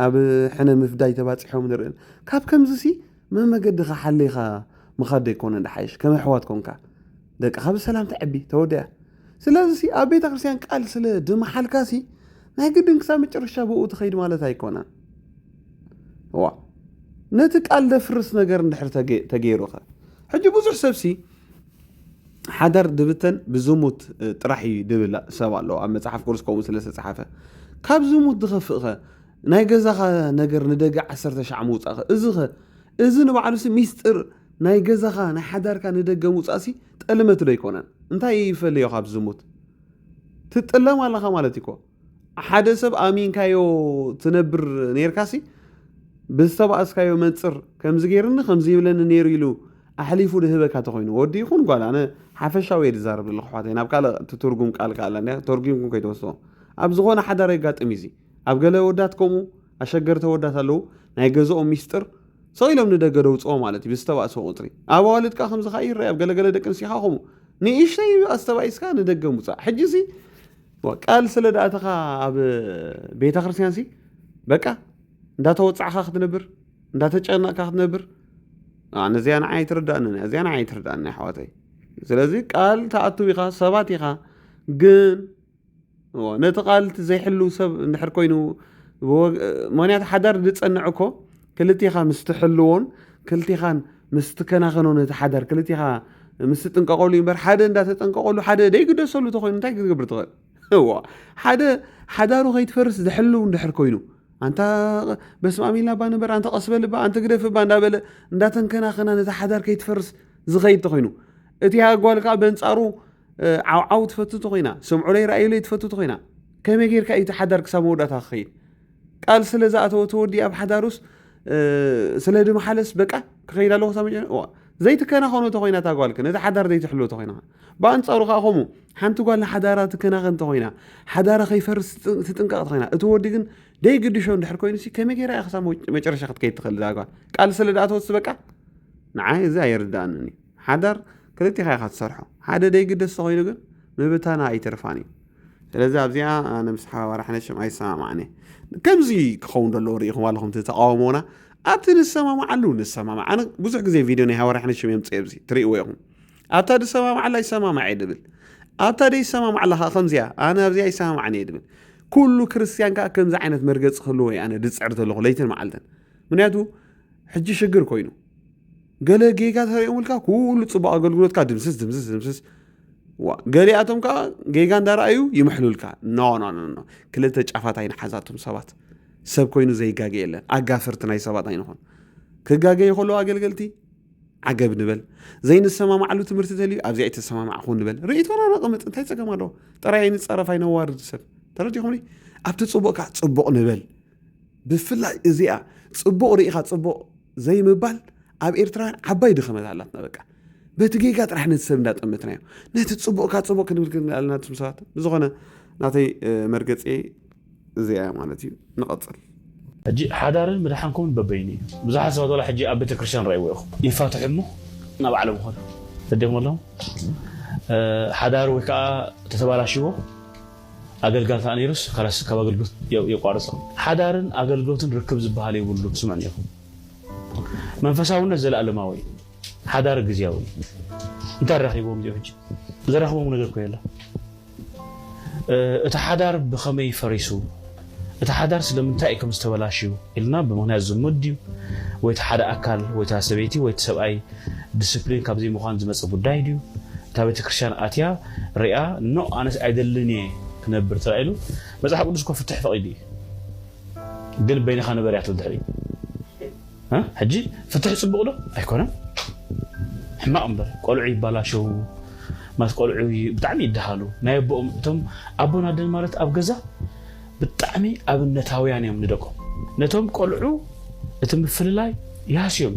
ኣብ ሕነ ምፍዳይ ተባፂሖም ንርኢ ካብ ከምዚ ሲ መመገድኻ ሓሊኻ ምኻድ ደይኮነ ንሓይሽ ከም ኣሕዋት ኮንካ ደቅኻ ብሰላም ተዕቢ ተወድያ ስለዚ ሲ ኣብ ቤተ ክርስትያን ቃል ስለ ድመሓልካ ሲ ናይ ግድን ክሳብ መጨረሻ ብኡ ትኸይድ ማለት ኣይኮነን እዋ ነቲ ቃል ደፍርስ ነገር እንድሕር ተገይሩኸ ሕጂ ብዙሕ ሰብሲ ሓዳር ድብተን ብዝሙት ጥራሕ እዩ ድብል ሰብ ኣለዎ ኣብ መፅሓፍ ቅዱስ ከምኡ ስለ ዝተፅሓፈ ካብ ዝሙት ድኸፍእኸ ናይ ገዛኻ ነገር ንደገ ዓሰርተ ሻዕ ምውፃእኸ እዚኸ እዚ ንባዕሉሲ ሚስጢር ናይ ገዛኻ ናይ ሓዳርካ ንደገ ምውፃእሲ ጠልመት ዶ ኣይኮነን እንታይ ይፈልዮ ካብ ዝሙት ትጥለም ኣለኻ ማለት እኮ ሓደ ሰብ ኣሚንካዮ ትነብር ኔርካሲ ብዝተባእስካዮ መንፅር ከምዚ ገይርኒ ከምዚ ይብለኒ ነይሩ ኢሉ ኣሕሊፉ ድህበካ ተኮይኑ ወዲ ይኹን ጓል ኣነ ሓፈሻዊ እየ ዝዛረብ ዘለኹ ኣሕዋተይ ናብ ካልእ ትትርጉም ቃል ከኣላ እንዲያ ተርጉምኩም ከይትወስድዎ ኣብ ዝኾነ ሓዳር የጋጥም እዩ እዚ ኣብ ገለ ወዳት ከምኡ ኣሸገርቲ ወዳት ኣለዉ ናይ ገዝኦም ሚስጥር ሰው ኢሎም ንደገ ደውፅኦ ማለት እዩ ብዝተባእሰ ቁፅሪ ኣብ ኣዋልድ ከዓ ከምዚ ከዓ ይረአ ኣብ ገለገለ ደቂ ኣንስትዮ ከዓ ከምኡ ንእሽተይ ኣስተባኢስካ ንደገ ምውፃእ ሕጂ እዚ ቃል ስለ ድኣተኻ ኣብ ቤተክርስትያንሲ በቃ እንዳተወጻዕካ ክትነብር እንዳተጨነቕካ ክትነብር ነዚኣ ንዓይ ኣይትርዳእንን እዚኣ ንዓይ ኣይትርዳእኒ ኣሕዋተይ ስለዚ ቃል ተኣትው ኢኻ ሰባት ኢኻ ግን ነቲ ቃል ዘይሕልው ሰብ እንድሕር ኮይኑ ምክንያቱ ሓዳር ዝፀንዕ እኮ ክልቴኻ ምስ ትሕልዎን ክልቴኻን ምስ ትከናኸኖን እቲ ሓዳር ክልቴኻ ምስ ትጥንቀቐሉ እዩ እምበር ሓደ እንዳተጠንቀቐሉ ሓደ ደይግደሰሉ ተኮይኑ እንታይ ክትገብር ትኽእል ሓደ ሓዳሩ ከይትፈርስ ዝሕልው እንድሕር ኮይኑ ኣንታ በስማም ኢልና ባ ንበር ኣንተ ቀስበልባ ኣንተ ግደፍባ እንዳበለ እንዳተንከናኸና ነቲ ሓዳር ከይትፈርስ ዝኸይድ ተኮይኑ እቲ ኣጓል ከዓ በንፃሩ ዓውዓው ትፈቱ ተኮይና ሰምዑለይ ርኣዩለይ ትፈቱ ተኮይና ከመይ ጌርካ እዩ እቲ ሓዳር ክሳብ መወዳእታ ክኸይድ ቃል ስለ ዝኣተወ ተወዲ ኣብ ሓዳሩስ ስለ ድመሓለስ በቃ ክኸይድ ኣለኹ ክሳብ መጨ እዋ ዘይትከናኸኖ ተኮይና እታ ጓልክ ነቲ ሓዳር ዘይትሕልዎ ተኮይና ብኣንጻሩ ከዓ ከምኡ ሓንቲ ጓል ንሓዳራ ትከናኸን ተኮይና ሓዳራ ከይፈርስ ትጥንቀቕ ተኮይና እቲ ወዲ ግን ደይግድሾ እንድሕር ኮይኑ ሲ ከመይ ገይራ እያ ክሳብ መጨረሻ ክትከይድ ትኽእል እዛ ጓል ቃል ስለ ድኣተወትስ በቃ ንዓይ እዚ ኣየርድኣንን እዩ ሓዳር ክልቴኻ ኢኻ ትሰርሖ ሓደ ደይግደስ ተኾይኑ ግን ምብታና ኣይተርፋን እዩ ስለዚ ኣብዚኣ ኣነ ምስ ሓባባሪ ሓነሽም ኣይሰማማዕን እየ ከምዚ ክኸውን ዘለዎ ርኢኹም ኣለኹም እቲ ተቃውሞና ኣብቲ ንሰማማዓሉ ንሰማማዕ ኣነ ብዙሕ ግዜ ቪድዮ ናይ ሃዋሪ ሓነሽም እዮም ፅኤ ብዚ ትርእይዎ ኢኹም ኣብታ ዝሰማማዓላ ይሰማማዕ እየ ድብል ኣብታ ደይሰማማዕላ ከዓ ከምዚያ ኣነ ኣብዚኣ ይሰማማዕን እየ ድብል ኩሉ ክርስትያን ከዓ ከምዚ ዓይነት መርገፂ ክህልዎ እዩ ኣነ ድፅዕር ዘለኹ ለይትን መዓልትን ምክንያቱ ሕጂ ሽግር ኮይኑ ገለ ጌጋ ተሪኦምልካ ኩሉ ፅቡቅ ኣገልግሎትካ ድምስስ ድምስስ ድምስስ ዋ ገሊኣቶም ከዓ ጌጋ እንዳረኣዩ ይምሕሉልካ ኖ ኖ ኖ ኖ ክልተ ጫፋት ኣይንሓዛቶም ሰባት ሰብ ኮይኑ ዘይጋገ የለን ኣጋፍርቲ ናይ ሰባት ኣይንኾን ክጋገ ይኸሉ ኣገልገልቲ ዓገብ ንበል ዘይንሰማማዕሉ ትምህርቲ ተልዩ ኣብዚ ኣይተሰማማዕኹ ንበል ርእቶና ነቕምጥ እንታይ ፀገም ኣለዎ ጥራይ ኣይንፀረፍ ኣይነዋርድ ሰብ ተረዲኹምኒ ኣብቲ ፅቡቅ ከዓ ፅቡቅ ንበል ብፍላይ እዚኣ ጽቡቕ ርኢኻ ጽቡቕ ዘይምባል ኣብ ኤርትራውያን ዓባይ ድኸመት ኣላትና በቃ በቲ ጌጋ ጥራሕ ነቲ ሰብ እንዳጠመትናዮ ነቲ ጽቡቕካ ጽቡቕ ክንብል ክንብል ኣለና ትም ሰባት ብዝኾነ ናተይ መርገፂ እዚኣ እያ ማለት እዩ ንቐፅል ሕጂ ሓዳርን ምድሓንኩምን በበይኑ እዩ ብዙሓት ሰባት ዋላ ሕጂ ኣብ ቤተክርስትያን ረእይዎ ኢኹም ይፋትሑ እሞ ናብ ባዕሎም ኾዱ ተደመሎም ሓዳር ወይ ከዓ ተተባላሽዎ ኣገልጋሊ ከኣ ነይሩስ ከላስ ካብ ኣገልግሎት የቋርጾ። ሓዳርን ኣገልግሎትን ርክብ ዝበሃል የብሉን ስምዑኒ ኢኹም። መንፈሳውነት ዘለኣለማዊ እዩ። ሓዳር ግዝያዊ እዩ። እንታይ ኣራኺብዎም እዚኦም ሕጂ? ዘራኽቦም ነገር እኮ የለን። እቲ ሓዳር ብኸመይ ፈሪሱ? እቲ ሓዳር ስለምንታይ እዩ ከም ዝተበላሽዩ ኢልና ብምኽንያት ዝሙት ድዩ ወይ እቲ ሓደ ኣካል ወይ እታ ሰበይቲ ወይ እቲ ሰብኣይ ድስፕሊን ካብ ዘይምዃን ዝመጸ ጉዳይ ድዩ እታ ቤተክርስትያን ኣትያ ሪኣ ኖእ ኣነስ ኣይደልን እየ ክነብር ተባሂሉ መጽሓፍ ቅዱስ እኮ ፍትሕ ፈቒዱ እዩ ግን በይንኻ ንበር እያ ትብል ድሕሪኡ ሕጂ ፍትሒ ጽቡቅ ዶ ኣይኮነን ሕማቅ እምበር ቆልዑ ይባላሸዉ ማለት ቆልዑ ብጣዕሚ ይደሃሉ ናይ ኣቦኦም እቶም ኣቦን ኣደን ማለት ኣብ ገዛ ብጣዕሚ ኣብነታውያን እዮም ንደቆም ነቶም ቆልዑ እቲ ምፍልላይ ይሃስዮም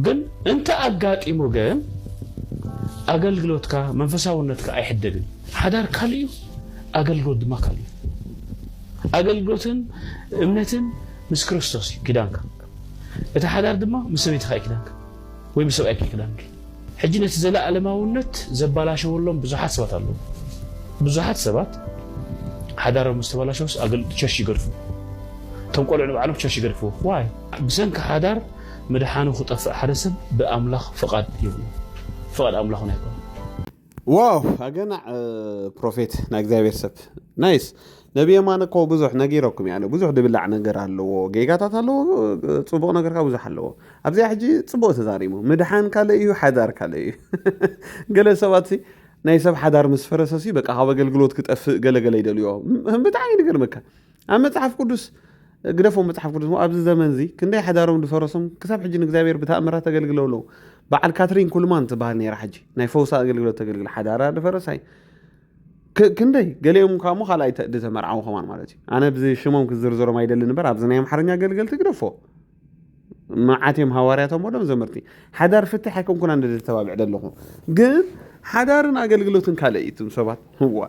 ግን እንተ ኣጋጢሙ ግን ኣገልግሎትካ መንፈሳውነትካ ኣይሕደግን ሓዳር ካልእ እዩ ኣገልግሎት ድማ ካልእ እዩ ኣገልግሎትን እምነትን ምስ ክርስቶስ እዩ ኪዳንካ። እቲ ሓዳር ድማ ምስ ሰበይትኻ እዩ ኪዳንካ፣ ወይ ምስ ሰብኣይኪ እዩ ኪዳንኪ። ሕጂ ነቲ ዘለኣለማውነት ዘባላሸወሎም ብዙሓት ሰባት ኣለዉ። ብዙሓት ሰባት ሓዳሮም ምስ ተባላሸውስ ኣገልግሎት ቸርች ይገድፉ። እቶም ቆልዑ ንባዕሎም ቸርች ይገድፍዎ። ዋይ? ብሰንኪ ሓዳር ምድሓኑ ክጠፍእ ሓደ ሰብ ብኣምላኽ ፍቓድ የብሉን፣ ፍቓድ ኣምላኽ እውን ኣይኮነን። ዋው ኣገናዕ ፕሮፌት ናይ እግዚኣብሔር ሰብ ናይስ ነቢ የማነ እኮ ብዙሕ ነጊረኩም ያለ ብዙሕ ድብላዕ ነገር ኣለዎ ጌጋታት ኣለዎ ፅቡቅ ነገር ካብ ብዙሕ ኣለዎ ኣብዚኣ ሕጂ ፅቡቅ ተዛሪሙ ምድሓን ካልእ እዩ ሓዳር ካልእ እዩ ገለ ሰባት ሲ ናይ ሰብ ሓዳር ምስ ፈረሰ ሲ በቃ ካብ ኣገልግሎት ክጠፍእ ገለገለ ይደልዮ ም- ብጣዕሚ ንገርመካ ኣብ መጽሓፍ ቅዱስ ግደፎም መጽሓፍ ቅዱስ ኣብዚ ዘመን እዚ ክንደይ ሓዳሮም ዝፈረሶም ክሳብ ሕጂ ንእግዚኣብሔር ብተኣምራት ተገልግለው ኣለዉ በዓል ካትሪን ኩልማን ትበሃል ነራ ሕጂ ናይ ፈውሳ ኣገልግሎት ተገልግል ሓዳራ ዝፈረሳይ ክንደይ ገሊኦም ካብ ሞ ካልኣይ ዝተመርዓው ከማን ማለት እዩ ኣነ ብዚ ሽሞም ክዝርዝሮም ኣይደልን እበር ኣብዚ ናይ ኣምሓርኛ ኣገልገልቲ ግደፎ መዓት እዮም ሃዋርያቶም ወዶም ዘመርቲ ሓዳር ፍትሕ ኣይከንኩና እንደ ተባብዕ ደለኹ ግን ሓዳርን ኣገልግሎትን ካልእ እዩ እትም ሰባት ህዋ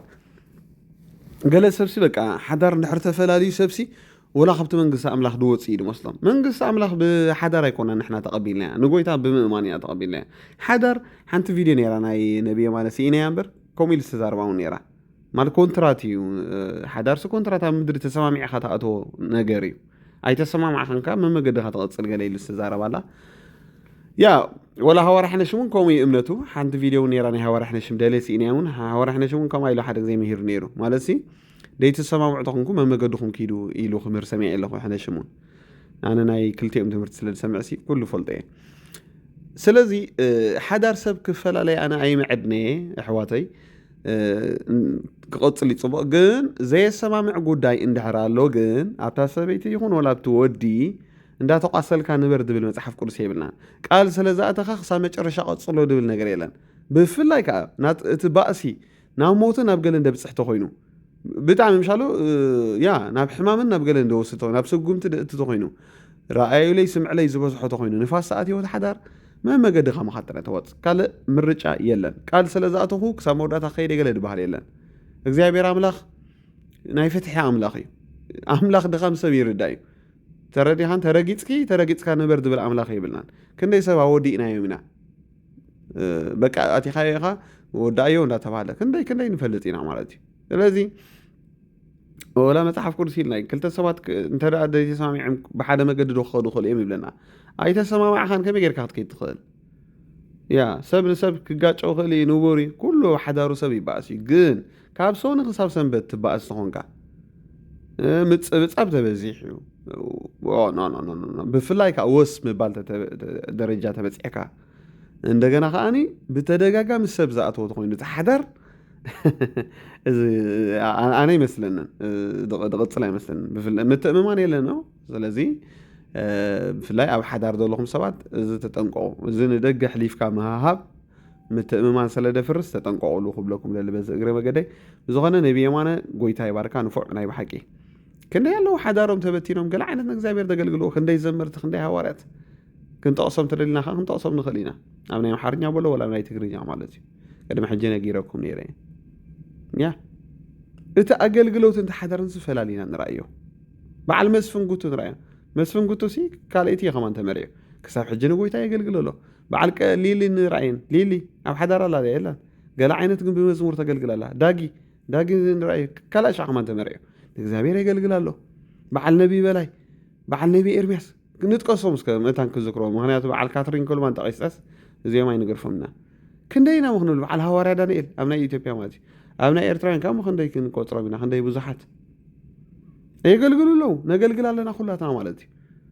ገለ ሰብሲ በቃ ሓዳር እንድሕር ተፈላለዩ ሰብሲ ወላ ካብቲ መንግስቲ ኣምላኽ ድወፅ እዩ ድመስሎም መንግስቲ ኣምላኽ ብሓዳር ኣይኮና ንሕና ተቐቢልና እያ ንጎይታ ብምእማን እያ ተቐቢልና እያ ሓዳር ሓንቲ ቪድዮ ነራ ናይ ነብየ ማለት ስኢነያ እምበር ከምኡ ኢሉ ዝተዛርባ እውን ነራ ማለት ኮንትራት እዩ ሓዳርሲ ኮንትራት ኣብ ምድሪ ተሰማሚዕኻ ተኣተዎ ነገር እዩ ኣይተሰማማዕክን ከ መመገድኻ ትቐጽል ገለ ኢሉ ዝተዛረባ ኣላ ያ ወላ ሃዋርያሕነሽ እውን ከምኡ እዩ እምነቱ ሓንቲ ቪድዮ እውን ነራ ናይ ሃዋርያሕነሽም ደሌ ስኢንያ እውን ሃዋርያሕነሽ እውን ከምኣ ኢሉ ሓደ ግዜ ምሂሩ ነይሩ ማለት ሲ ደይትሰማምዑ ተኾንኩ መመገድኹም ኪዱ ኢሉ ክምህር ሰሚዐ ኣለኹ ሕነሽም እውን ኣነ ናይ ክልቲኦም ትምህርቲ ስለ ዝሰምዕ ሲ ኩሉ ፈልጦ እየ ስለዚ ሓዳር ሰብ ክፈላለይ ኣነ ኣይምዕድነ እየ ኣሕዋተይ ክቕፅል እዩ ፅቡቕ ግን ዘየሰማምዕ ጉዳይ እንድሕር ኣሎ ግን ኣብታ ሰበይቲ ይኹን ወላ ኣብቲ ወዲ እንዳተቋሰልካ ንበር ዝብል መፅሓፍ ቅዱስ የብልናን ቃል ስለ ዝኣተኻ ክሳብ መጨረሻ ቀፅሎ ዝብል ነገር የለን ብፍላይ ከዓ እቲ ባእሲ ናብ ሞትን ኣብ ገለን ደብፅሕ ተኮይኑ ብጣዕሚ ምሻሉ ያ ናብ ሕማምን ናብ ገለን ደወስቶ ናብ ሰጉምቲ ደእቲ ተኮይኑ ረኣዩለይ ስምዕለይ ዝበዝሖ ተኮይኑ ንፋስ ሰዓት ህይወት ሓዳር መመገዲ ካማኻ ጥራይ ተዋፅ ካልእ ምርጫ የለን ቃል ስለ ዝኣተኹ ክሳብ መወዳእታ ከይደ ገለ ድበሃል የለን እግዚኣብሔር ኣምላኽ ናይ ፍትሒ ኣምላኽ እዩ ኣምላኽ ድኻም ሰብ ይርዳእ እዩ ተረዲኻን ተረጊፅኪ ተረጊፅካ ንበር ዝብል ኣምላኽ የብልናን ክንደይ ሰብ ኣወዲእናዮም ኢና በቃ ኣቲኻዮ ኢኻ ወዳእዮ እንዳተባሃለ ክንደይ ክንደይ ንፈልጥ ኢና ማለት እዩ ስለዚ ወላ መፅሓፍ ቅዱስ ኢልና ክልተ ሰባት እንተ ዘይተሰማሚዖም ብሓደ መገዲ ዶ ክኸዱ ክኽእሉ እዮም ይብለና ኣይተሰማማዕኻን ከመይ ጌርካ ክትከይድ ትኽእል ያ ሰብ ንሰብ ክጋጨው ክእል እዩ ንቡር እዩ ኩሉ ሓዳሩ ሰብ ይበኣስ እዩ ግን ካብ ሰኑ ክሳብ ሰንበት ትባእስ ተኾንካ ምፅብፃብ ተበዚሕ እዩ ብፍላይ ከዓ ወስ ምባል ደረጃ ተበፂሕካ እንደገና ከዓኒ ብተደጋጋሚ ሰብ ዝኣተወ ተኮይኑ እቲ ሓዳር እዚ ኣነ ይመስለንን ድቕፅል ኣይመስለንን ምትእምማን የለን ነው። ስለዚ ብፍላይ ኣብ ሓዳር ዘለኹም ሰባት እዚ ተጠንቀቑ። እዚ ንደገ ኣሕሊፍካ ምሃሃብ ምትእምማን ሰለ ደፍርስ ተጠንቀቁሉ ክብለኩም ደሊ በዚ እግረ መገደይ ብዝኾነ ነቢ የማነ ጎይታ ይባርካ ንፉዕ ናይ ብሓቂ ክንደይ ኣለዉ ሓዳሮም ተበቲኖም ገለ ዓይነት ንእግዚኣብሔር ዘገልግልዎ ክንደይ ዘመርቲ ክንደይ ሃዋርያት ክንጠቕሶም ተደሊና ከ ክንጠቕሶም ንኽእል ኢና ኣብ ናይ ኣምሓርኛ በሎ ወላ ናይ ትግርኛ ማለት እዩ ቅድሚ ሕጂ ነጊረኩም ነይረ ያ እቲ ኣገልግሎትን ተሓዳርን ዝፈላሊና ንረኣዮ በዓል መስፍን ጉቱ ንረኣዮ መስፍን ጉቱ ሲ ካልእቲ ከማን ተመሪዑ ክሳብ ሕጂ ንጎይታ የገልግል ኣሎ በዓል ቀ ሊሊ ን ራእይን ሊሊ ኣብ ሓዳር ኣላ ድያ የላን ገለ ዓይነት ግን ብመዝሙር ተገልግል ኣላ ዳጊ ዳጊ ን ራእይ ካልኣይ ሻዕ ከማን ተመርዕዮ ንእግዚኣብሔር የገልግል ኣሎ በዓል ነቢይ በላይ በዓል ነቢይ ኤርምያስ ንጥቀሶም እስከ መታን ክዝክሮ ምክንያቱ በዓል ካትሪን ኮልማን ጠቂስጠስ እዚኦም ኣይንገርፎምና ክንደይ ኢና ምክንብል በዓል ሃዋርያ ዳንኤል ኣብ ናይ ኢትዮጵያ ማለት እዩ ኣብ ናይ ኤርትራውያን ካብ ምክንደይ ክንቆፅሮም ኢና ክንደይ ብዙሓት የገልግሉ ኣለዉ ነገልግል ኣለና ኩላትና ማለት እዩ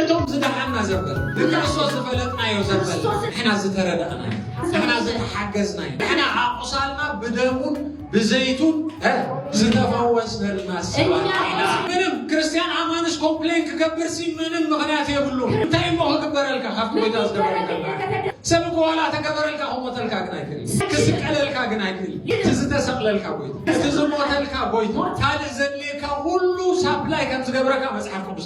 እቶም ዝደሓና ዘበል ብክርስቶስ ዝፈለጥናዮ ዘበል ንሕና ዝተረዳእናዮ ንሕና ዝተሓገዝናዮ ንሕና ኣቑሳልና ብደሙን ብዘይቱን ዝተፈወስነልና ምንም ክርስቲያን ኣማንስ ኮምፕሌን ክገብር ሲ ምንም ምክንያት የብሉ እንታይ እሞ ክግበረልካ ካብቲ ጎይታ ዝገበረልካ ሰብ እኮ ዋላ ተገበረልካ ክሞተልካ ግን ኣይክእል ክስቀለልካ ግን ኣይክእል እቲ ዝተሰቅለልካ ጎይታ እቲ ዝሞተልካ ጎይታ ካልእ ዘድልየካ ኩሉ ሳፕላይ ከም ዝገብረካ መፅሓፍ ቅዱስ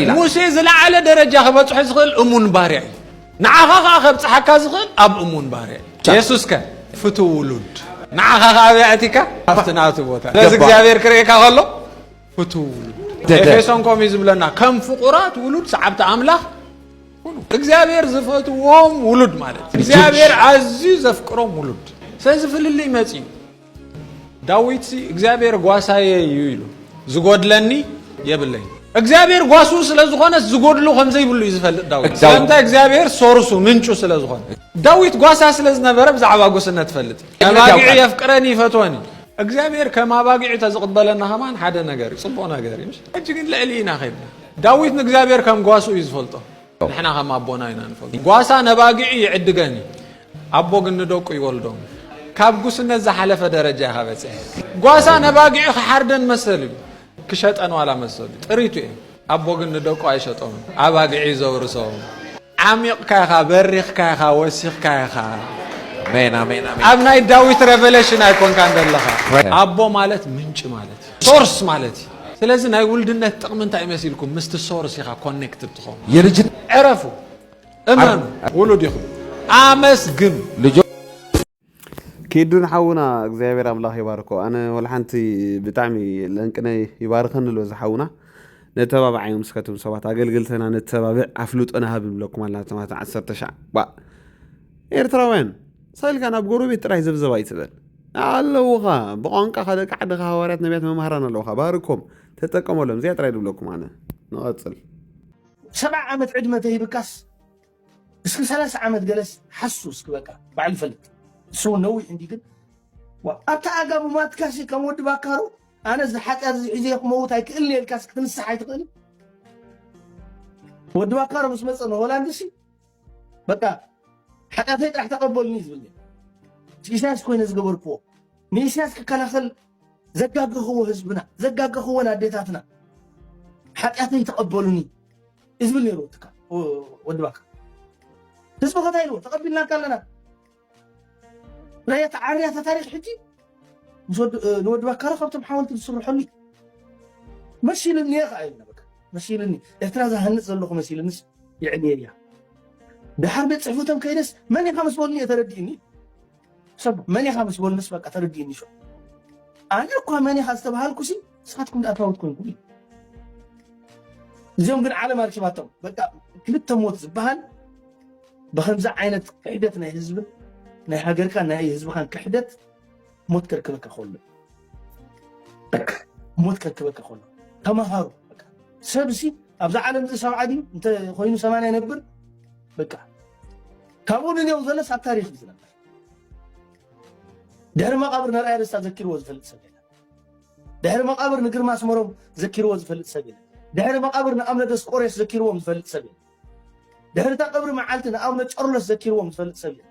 ኢላ። ሙሴ ዝለዓለ ደረጃ ክበጽሖ ዝኽእል እሙን ባርያ እዩ። ንዓኻ ኸኣ ከብጽሓካ ዝኽእል ኣብ እሙን ባርያ እዩ። የሱስከ ፍቱው ውሉድ ንዓኻ ኸኣ ኣብያ ኣእቲካ ኣብቲ ናቱ ቦታ ነዚ እግዚኣብሔር ክርእየካ ከሎ ፍቱው ውሉድ ኤፌሶን ከምኡ እዩ ዝብለና ከም ፍቑራት ውሉድ ሰዓብቲ ኣምላኽ እግዚኣብሔር ዝፈትዎም ውሉድ ማለት እግዚኣብሔር ኣዝዩ ዘፍቅሮም ውሉድ ስለዚ ፍልልይ መፅዩ ዳዊት እግዚኣብሔር ጓሳየ እዩ ኢሉ ዝጎድለኒ የብለይ እግዚኣብሔር ጓሱ ስለ ዝኾነስ ዝጎድሎ ከም ዘይብሉ እዩ ዝፈልጥ ዳዊት ስለምንታይ እግዚኣብሔር ሶርሱ ምንጩ ስለ ዝኾነ ዳዊት ጓሳ ስለ ዝነበረ ብዛዕባ ጉስነት ፈልጥ ኣባጊዕ የፍቅረኒ ይፈትወኒ እግዚኣብሔር ከም ኣባጊዕ ተዝቕበለና ከማን ሓደ ነገር እዩ ፅቡቕ ነገር እዩ ሕጂ ግን ልዕሊ ኢና ከድና ዳዊት ንእግዚኣብሔር ከም ጓሱ እዩ ዝፈልጦ ንሕና ከም ኣቦና ኢና ንፈግሮ ጓሳ ነባጊዑ ይዕድገን እዩ ኣቦ ግን ንደቁ ይወልዶም ካብ ጉስነት ዝሓለፈ ደረጃ ኢኻ በፅሐ ጓሳ ነባጊዑ ክሓርደን መሰል እዩ ክሸጠን ዋላ መሰሉ እዩ ጥሪቱ እዩ ኣቦ ግን ንደቁ ኣይሸጦም ኣባጊዑ እዩ ዘውርሶም ዓሚቕካ ኢኻ በሪኽካ ኢኻ ወሲኽካ ኢኻ ኣብ ናይ ዳዊት ሬቨሌሽን ኣይኮንካን ዘለኻ ኣቦ ማለት ምንጭ ማለት ሶርስ ማለት እዩ ስለዚ ናይ ውልድነት ጥቕሚ እንታይ መሲልኩም ምስቲ ሶርስ ኢኻ ኮኔክትድ ትኾኑ የልጅት ዕረፉ እመኑ ውሉድ ኢኹም ኣመስግኑ ኪዱን ሓውና እግዚኣብሔር ኣምላኽ ይባርኮ ኣነ ወልሓንቲ ብጣዕሚ ለንቅነ ይባርኸኒ ኣሎ እዚ ሓውና ነተባብዓዮም ምስከትም ሰባት ኣገልግልተና ነተባብዕ ኣፍልጦና ሃብ ንብለኩም ኣለና ተማት ዓሰርተ ሻዕ ኤርትራውያን ሳልካ ናብ ጎረቤት ጥራይ ዘብዘብ ኣይትበል ኣለዉኻ ብቋንቃኻ ደቂ ዓድኻ ሃዋርያት ነቢያት መማህራን ኣለዉኻ ባርኮም ተጠቀመሎም እዚኣ ጥራይ ድብለኩም ኣነ ንቐጽል ሰብዓ ዓመት ዕድመ ተሂብካስ እስኪ ሰላሳ ዓመት ገለስ ሓሱ እስኪ በቃ ባዕሉ ይፈልጥ እሱ እውን ነዊሕ እንዲ ግን ኣብታ ኣጋ ብማትካሲ ከም ወዲ ባካሩ ኣነ እዚ ሓጢኣት እዚ ሒዘ ክመውት ኣይክእልን እየ ኢልካስ ክትንስሕ ኣይትኽእልን ወዲ ባካሩ ምስ መፀ ንሆላንድሲ በቃ ሓጢኣተይ ጥራሕ ተቐበሉኒ ዝብል ነይሩ ኢሳያስ ኮይነ ዝገበርክዎ ንኢሳያስ ክከላኸል ዘጋገኽዎ ህዝብና ዘጋገኽወን ኣዴታትና ሓጢኣተይ ተቐበሉኒ እዩ ዝብል ነይሩ ወዲ ባካ ህዝቢ ከታይ ኢልዎ ተቐቢልናካ ኣለና ናይ ኣተዓርያ ታሪክ ሕጂ ንወዲ ባካረ ካብቶም ሓወልቲ ዝስርሐሉ መሲልኒ እየ ከዓ ኢልና በቃ መሲልኒ ኤርትራ ዝሃንፅ ዘለኹ መሲልንስ ይዕልየ እያ ድሓር ቤት ፅሕፈቶም ከይደስ መን ኢኻ ምስ በሉኒ እየ ተረዲእኒ ሰብ መን ኢኻ ምስ በሉንስ በቃ ተረዲእኒ ሾ ኣነ እኳ መን ኢኻ ዝተባሃልኩሲ ንስኻትኩም ድኣ ትራውት ኮንኩም እዩ እዚኦም ግን ዓለም ኣርኪባቶም በቃ ክልተ ሞት ዝበሃል ብከምዚ ዓይነት ክሕደት ናይ ህዝቢ ናይ ሃገርካ ናይ ህዝብኻን ክሕደት ሞት ከርክበካ ከሎ ሞት ከርክበካ ከሎ ተማሃሩ ሰብሲ ኣብዛ ዓለም እዚ ሰብዓ ድዩ እንተኮይኑ ሰማንያ ነብር በቃ ካብኡ ንኔው ዘለስ ኣብ ታሪክ ዝነበር ድሕሪ መቃብር ነርኣያ ደስታ ዘኪርዎ ዝፈልጥ ሰብ የለን ድሕሪ መቓብር ንግርማ ኣስመሮም ዘኪርዎ ዝፈልጥ ሰብ የለን ድሕሪ መቓብር ንኣብነ ደስቆሬስ ዘኪርዎም ዝፈልጥ ሰብ የለን ድሕሪ እታ ቀብሪ መዓልቲ ንኣብነ ጨርሎስ ዘኪርዎም ዝፈልጥ ሰብ የለን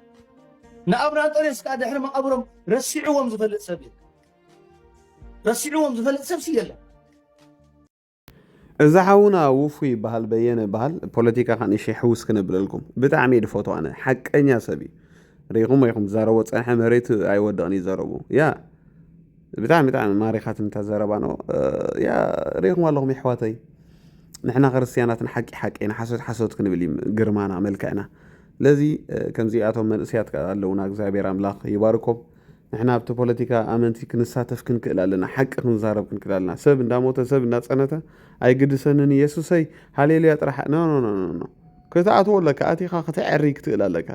ንኣብነ ኣንጦንዮስ ከዓ ድሕሪ መቓብሮም ረሲዕዎም ዝፈልጥ ሰብ የለን ረሲዕዎም ዝፈልጥ ሰብሲ የለን እዛ ሓውና ውፉይ ይበሃል በየነ ይበሃል ፖለቲካ ከ ንእሽተይ ሕውስ ክነብለልኩም ብጣዕሚ እየ ድፈትዎ ኣነ ሓቀኛ ሰብ እዩ ርኢኹም ኢኹም ዝዛረቦ ፀንሐ መሬት ኣይወደቕን እዩ ዘረቡ ያ ብጣዕሚ ብጣዕሚ ማሪኻትኒ እታ ዘረባ ኖ ያ ርኢኹም ኣለኹም የሕዋተይ ንሕና ክርስትያናት ንሓቂ ሓቂ ንሓሶት ሓሶት ክንብል እዩ ግርማና መልክዕና ስለዚ ከምዚኣቶም መንእሰያት ከ ኣለውና እግዚኣብሔር ኣምላኽ ይባርኮም ንሕና ኣብቲ ፖለቲካ ኣመንቲ ክንሳተፍ ክንክእል ኣለና ሓቂ ክንዛረብ ክንክእል ኣለና ሰብ እንዳሞተ ሰብ እንዳጸነተ ኣይግድሰንን ኢየሱሰይ ሃሌሉያ ጥራሕ ኖ ኖ ኖ ኖ ክትኣትዎ ኣለካ ኣቲኻ ክትዐሪ ክትእል ኣለካ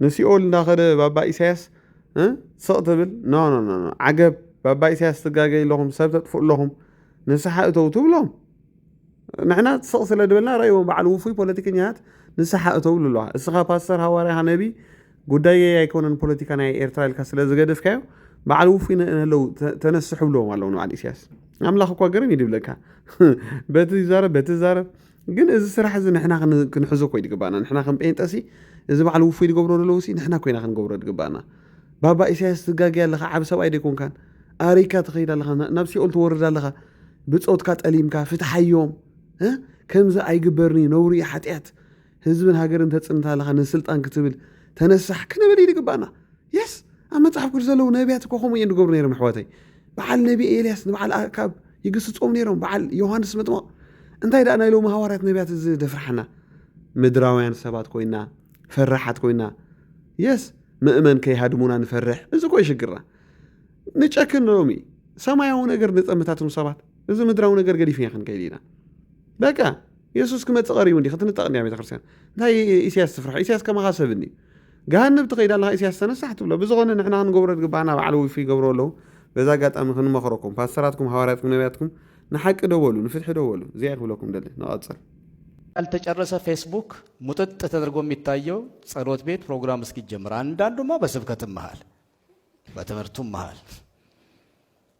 ንሲኦል እንዳኸደ ባባ ኢሳያስ ስቕ ትብል ኖ ኖ ኖ ዓገብ ባባ ኢሳያስ ትጋገይ ኣለኹም ሰብ ተጥፍኡ ኣለኹም ንስሓ እተው ትብሎም ንሕና ስቕ ስለ ድበልና ረእዎም በዓል ውፉይ ፖለቲከኛታት ንስሓ እተው ልለዋ እስኻ ፓስተር ሃዋርያኻ ነቢ ጉዳየይ ኣይኮነን ፖለቲካ ናይ ኤርትራ ኢልካ ስለ ዝገደፍካዮ በዓል ውፉይ ንህለው ተነስሑ ብለዎም ኣለዉ ንበዓል ኢሳያስ ኣምላኽ እኳ ገርም እዩ ድብለካ በቲ ይዛረብ በቲ ይዛረብ ግን እዚ ስራሕ እዚ ንሕና ክንሕዞ ኮይ ድግባና ንሕና ከም ጴንጠሲ እዚ በዓል ውፉይ ዝገብሮ ዘለዉ ሲ ንሕና ኮይና ክንገብሮ ድግባና ባባ ኢሳያስ ትጋገያ ኣለኻ ዓብ ሰብኣይ ደይኮንካን ኣሪካ ትኸይድ ኣለኻ ናብ ሲኦል ትወርድ ኣለኻ ብፆትካ ጠሊምካ ፍትሓዮም ከምዚ ኣይግበርኒ ነውሪ ሓጢኣት ህዝብን ሃገርን ተጽንታ ኣለኻ ንስልጣን ክትብል ተነሳሕ ክንብል እዩ ዝግባእና የስ ኣብ መጽሓፍ ቅዱስ ዘለዉ ነቢያት እኮ ከምኡ እዮም ዝገብሩ ነይሮም ኣሕዋተይ በዓል ነቢ ኤልያስ ንበዓል ኣካብ ይግስጾም ነይሮም በዓል ዮሃንስ መጥምቕ እንታይ ደኣ ናይ ሎሚ ሃዋርያት ነቢያት እዚ ደፍርሓና ምድራውያን ሰባት ኮይና ፈራሓት ኮይና የስ ምእመን ከይሃድሙና ንፈርሕ እዚ ኮይ ሽግርና ንጨክን ሎሚ ሰማያዊ ነገር ንጠምታትም ሰባት እዚ ምድራዊ ነገር ገዲፍና ክንከይድ ኢና በቃ የሱስ ክመጽእ ቀሪቡ እንዲ ክትንጠቕ እንዲያ ቤተክርስትያን እንታይ ኢሳያስ ትፍርሖ ኢሳያስ ከማኻ ሰብ እንዲ ገሃነብ ትኸይድ ኣለኻ ኢሳያስ ተነሳሕ ትብሎ ብዝኾነ ንሕና ክንገብሮ ዝግባኣና በዓል ውፊ ይገብሮ ኣለዉ በዛ ኣጋጣሚ ክንመኽረኩም ፓስተራትኩም ሃዋርያትኩም ነቢያትኩም ንሓቂ ደወሉ ንፍትሒ ደወሉ እዚኣ ክብለኩም ደሊ ንቐጽል ያልተጨረሰ ፌስቡክ ሙጥጥ ተደርጎ የሚታየው ጸሎት ቤት ፕሮግራም እስኪጀምር፣ አንዳንዱማ በስብከትም መሃል በትምህርቱም መሃል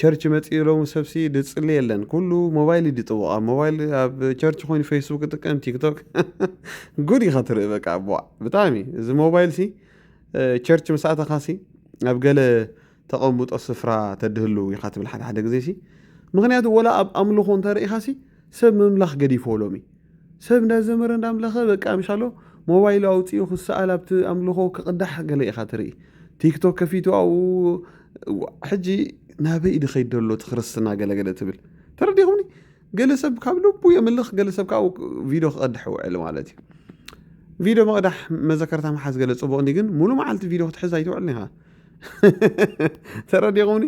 ቸርች መጺኡ ሎሚ ሰብሲ ድጽሊ የለን ኩሉ ሞባይል ይድጥውቕ ኣብ ሞባይል ኣብ ቸርች ኮይኑ ፌስቡክ ይጥቀም ቲክቶክ ጉድ ኢኻ ትርኢ በቃ ኣቦዋ ብጣዕሚ እዚ ሞባይል ሲ ቸርች ምስ ኣተኻ ሲ ኣብ ገለ ተቐምጦ ስፍራ ተድህሉ ኢኻ ትብል ሓደ ሓደ ግዜ ሲ ምክንያቱ ወላ ኣብ ኣምልኾ እንተርእኻ ሲ ሰብ ምምላኽ ገዲፎ ሎሚ ሰብ እንዳ ዘመረ እንዳ ኣምለኸ በቃ ምሻሎ ሞባይሉ ኣውጺኡ ክሰኣል ኣብቲ ኣምልኾ ክቕዳሕ ገለ ኢኻ ትርኢ ቲክቶክ ከፊቱ ኣብኡ ሕጂ ናበይ ድኸይድ ደሎ እቲ ክርስትና ገለገለ ትብል ተረዲኹምኒ ገለ ሰብ ካብ ልቡ የምልኽ ገለ ሰብ ካብ ቪድዮ ክቐድሕ ውዕል ማለት እዩ ቪድዮ መቕዳሕ መዘከርታ ምሓዝ ገለ ጽቡቕ እንዲ ግን ሙሉ መዓልቲ ቪድዮ ክትሕዝ ኣይትውዕልን ኢኻ ተረዲኹምኒ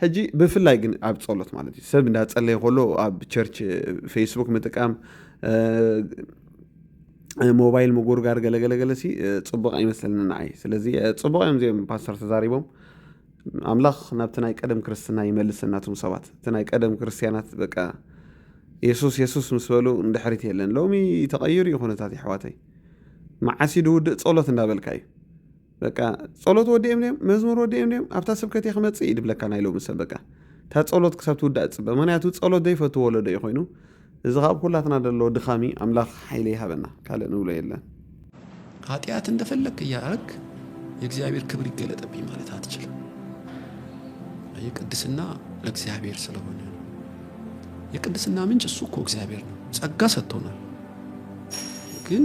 ሕጂ ብፍላይ ግን ኣብ ፀሎት ማለት እዩ ሰብ እንዳፀለየ ከሎ ኣብ ቸርች ፌስቡክ ምጥቃም ሞባይል ምጉርጋር ገለገለገለ ሲ ፅቡቅ ኣይመስለኒ ንዓይ ስለዚ ፅቡቅ እዮም እዚኦም ፓስተር ተዛሪቦም ኣምላኽ ናብቲ ናይ ቀደም ክርስትና ይመልሰና እቶም ሰባት እቲ ናይ ቀደም ክርስትያናት በቃ የሱስ የሱስ ምስ በሉ ንድሕሪት የለን ሎሚ ተቐይሩ እዩ ኩነታት ይሕዋተይ መዓስ ድውድእ ፀሎት እንዳበልካ እዩ በቃ ጸሎት ወዲኦም ድዮም መዝሙር ወዲኦም ድዮም ኣብታ ስብከት እየ ክመጽእ እዩ ድብለካ ናይ ሎሚ ሰብ በቃ እታ ጸሎት ክሳብ ትውዳእ ጽበ ምክንያቱ ጸሎት ዘይፈቱ ወለዶ እዩ ኮይኑ እዚ ካብ ኩላትና ደሎ ድኻሚ ኣምላኽ ሓይሊ ይሃበና ካልእ ንብሎ የለን ኃጢአት እንደፈለክ እያረክ የእግዚአብሔር ክብር ይገለጠብኝ ማለት አትችልም። ይህ ቅድስና ለእግዚአብሔር ስለሆነ ነው። የቅድስና ምንጭ እሱ እኮ እግዚአብሔር ነው። ጸጋ ሰጥቶናል ግን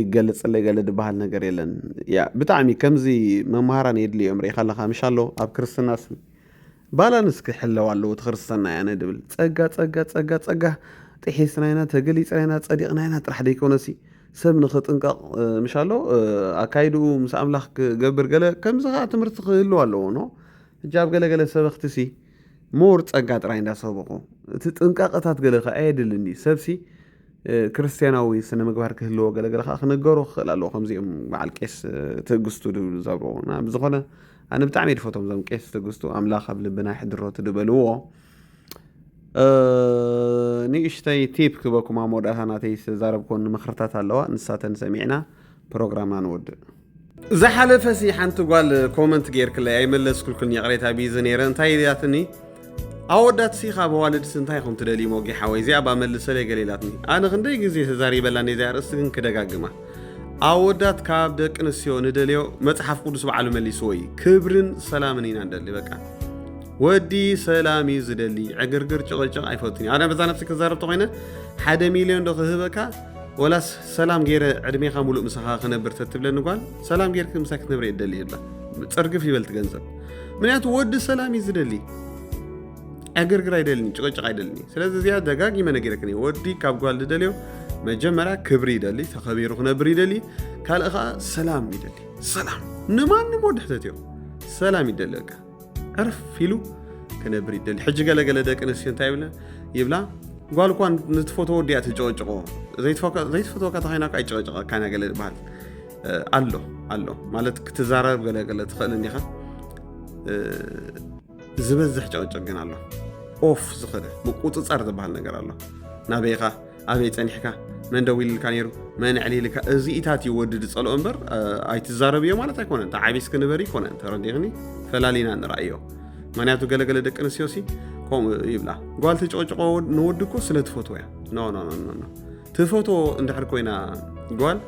ይገለጸለይ ገለ ድበሃል ነገር የለን ያ ብጣዕሚ ከምዚ መምሃራን የድልዮም ርኢኻ ኣለኻ ምሻሎ ኣብ ክርስትናስ ባላንስ ክሕለው ኣለዎ እቲ ክርስትና እያ ንድብል ጸጋ ጸጋ ጸጋ ጸጋ ጥሒስና ኢና ተገሊጽና ኢና ጸዲቕና ኢና ጥራሕ ደይኮነሲ ሰብ ንኽጥንቀቕ ምሻሎ ኣካይድኡ ምስ ኣምላኽ ክገብር ገለ ከምዚ ከዓ ትምህርቲ ክህልዎ ኣለዎ ኖ ሕጂ ኣብ ገለገለ ሰበኽቲ ሲ ሞር ጸጋ ጥራይ እንዳሰበኹ እቲ ጥንቃቐታት ገለ ከኣ የድልን እዩ ሰብሲ ክርስትያናዊ ስነ ምግባር ክህልዎ ገለገለ ከዓ ክነገሮ ክኽእል ኣለዎ ከምዚኦም በዓል ቄስ ትእግስቱ ድብሉ ዘብረዎና ብዝኾነ ኣነ ብጣዕሚ ድፈቶም ዞም ቄስ ትእግስቱ ኣምላኽ ኣብ ልብና ይሕድሮ ትድበልዎ ንእሽተይ ቲፕ ክበኩም ኣብ መወዳእታ ናተይ ዝተዛረብኮን ምክርታት ኣለዋ ንሳተን ሰሚዕና ፕሮግራምና ንወድእ ዝሓለፈ ሲ ሓንቲ ጓል ኮመንት ጌርክለይ ኣይመለስኩልክን ይቕሬታ ቢዚ ነይረ እንታይ ኢላትኒ ኣወዳት ሲ ካብ ኣዋልድሲ እንታይ ኹም ትደልዩ ሞጊ ሓወይ እዚኣ ባ መልሰለይ ገለ ኢላትኒ ኣነ ክንደይ ግዜ ተዛሪበላ ነዚኣ ርእስቲ ግን ክደጋግማ ኣወዳት ካብ ደቂ ኣንስትዮ ንደልዮ መፅሓፍ ቅዱስ በዓሉ መሊስዎ እዩ ክብርን ሰላምን ኢና ንደሊ በቃ ወዲ ሰላም እዩ ዝደሊ ዕግርግር ጭቕጭቕ ኣይፈቱን እዩ ኣነ በዛ ነብሲ ክዛረብ ተኮይነ ሓደ ሚልዮን ዶ ክህበካ ወላስ ሰላም ገይረ ዕድሜኻ ሙሉእ ምሳኻ ክነብር ተትብለኒ ጓል ሰላም ገይርክ ምሳይ ክትነብረ እየ ደሊ ይብላ ፅርግፍ ይበልቲ ገንዘብ ምክንያቱ ወዲ ሰላም እዩ ዝደሊ ዕግርግር ኣይደልኒ ጭቅጭቅ ኣይደልኒ ስለዚ እዚኣ ደጋጊመ ነገረክኒ ወዲ ካብ ጓል ዝደልዮ መጀመርያ ክብሪ ይደሊ ተኸቢሩ ክነብር ይደሊ ካልእ ከዓ ሰላም ይደሊ ሰላም ንማንም ወዲ ሕተት እዮም ሰላም ይደለካ ዕርፍ ኢሉ ክነብር ይደሊ ሕጂ ገለገለ ደቂ ኣንስትዮ እንታይ ይብለ ይብላ ጓል እኳ ንትፈትዎ ወዲያ ትጨወጭቆ ዘይትፈትወካ ተኸይና ካ ይጨወጭቀካና ገለ ዝበሃል ኣሎ ኣሎ ማለት ክትዛረብ ገለገለ ትኽእል እንዲኻ ዝበዝሕ ጨወጭቅ ግን ኣሎ ኦፍ ዝኽእል ምቁፅፃር ዝበሃል ነገር ኣሎ ናበይኻ ኣበይ ጸኒሕካ መን ደዊልልካ ነይሩ መን ዕሊልካ እዚኢታት እዩ ወዲ ዝጸልኦ እምበር ኣይትዛረብዮ ማለት ኣይኮነን ተዓቢስ ክንበር ይኮነን ተረዲኽኒ ፈላሊና ንረኣዮ ምክንያቱ ገለገለ ደቂ ኣንስትዮ ሲ ከምኡ ይብላ ጓል ተጨቅጭቆ ንወዲ እኮ ስለ ትፈትዎ እያ ኖኖኖኖ ትፈትዎ እንድሕር ኮይና ጓል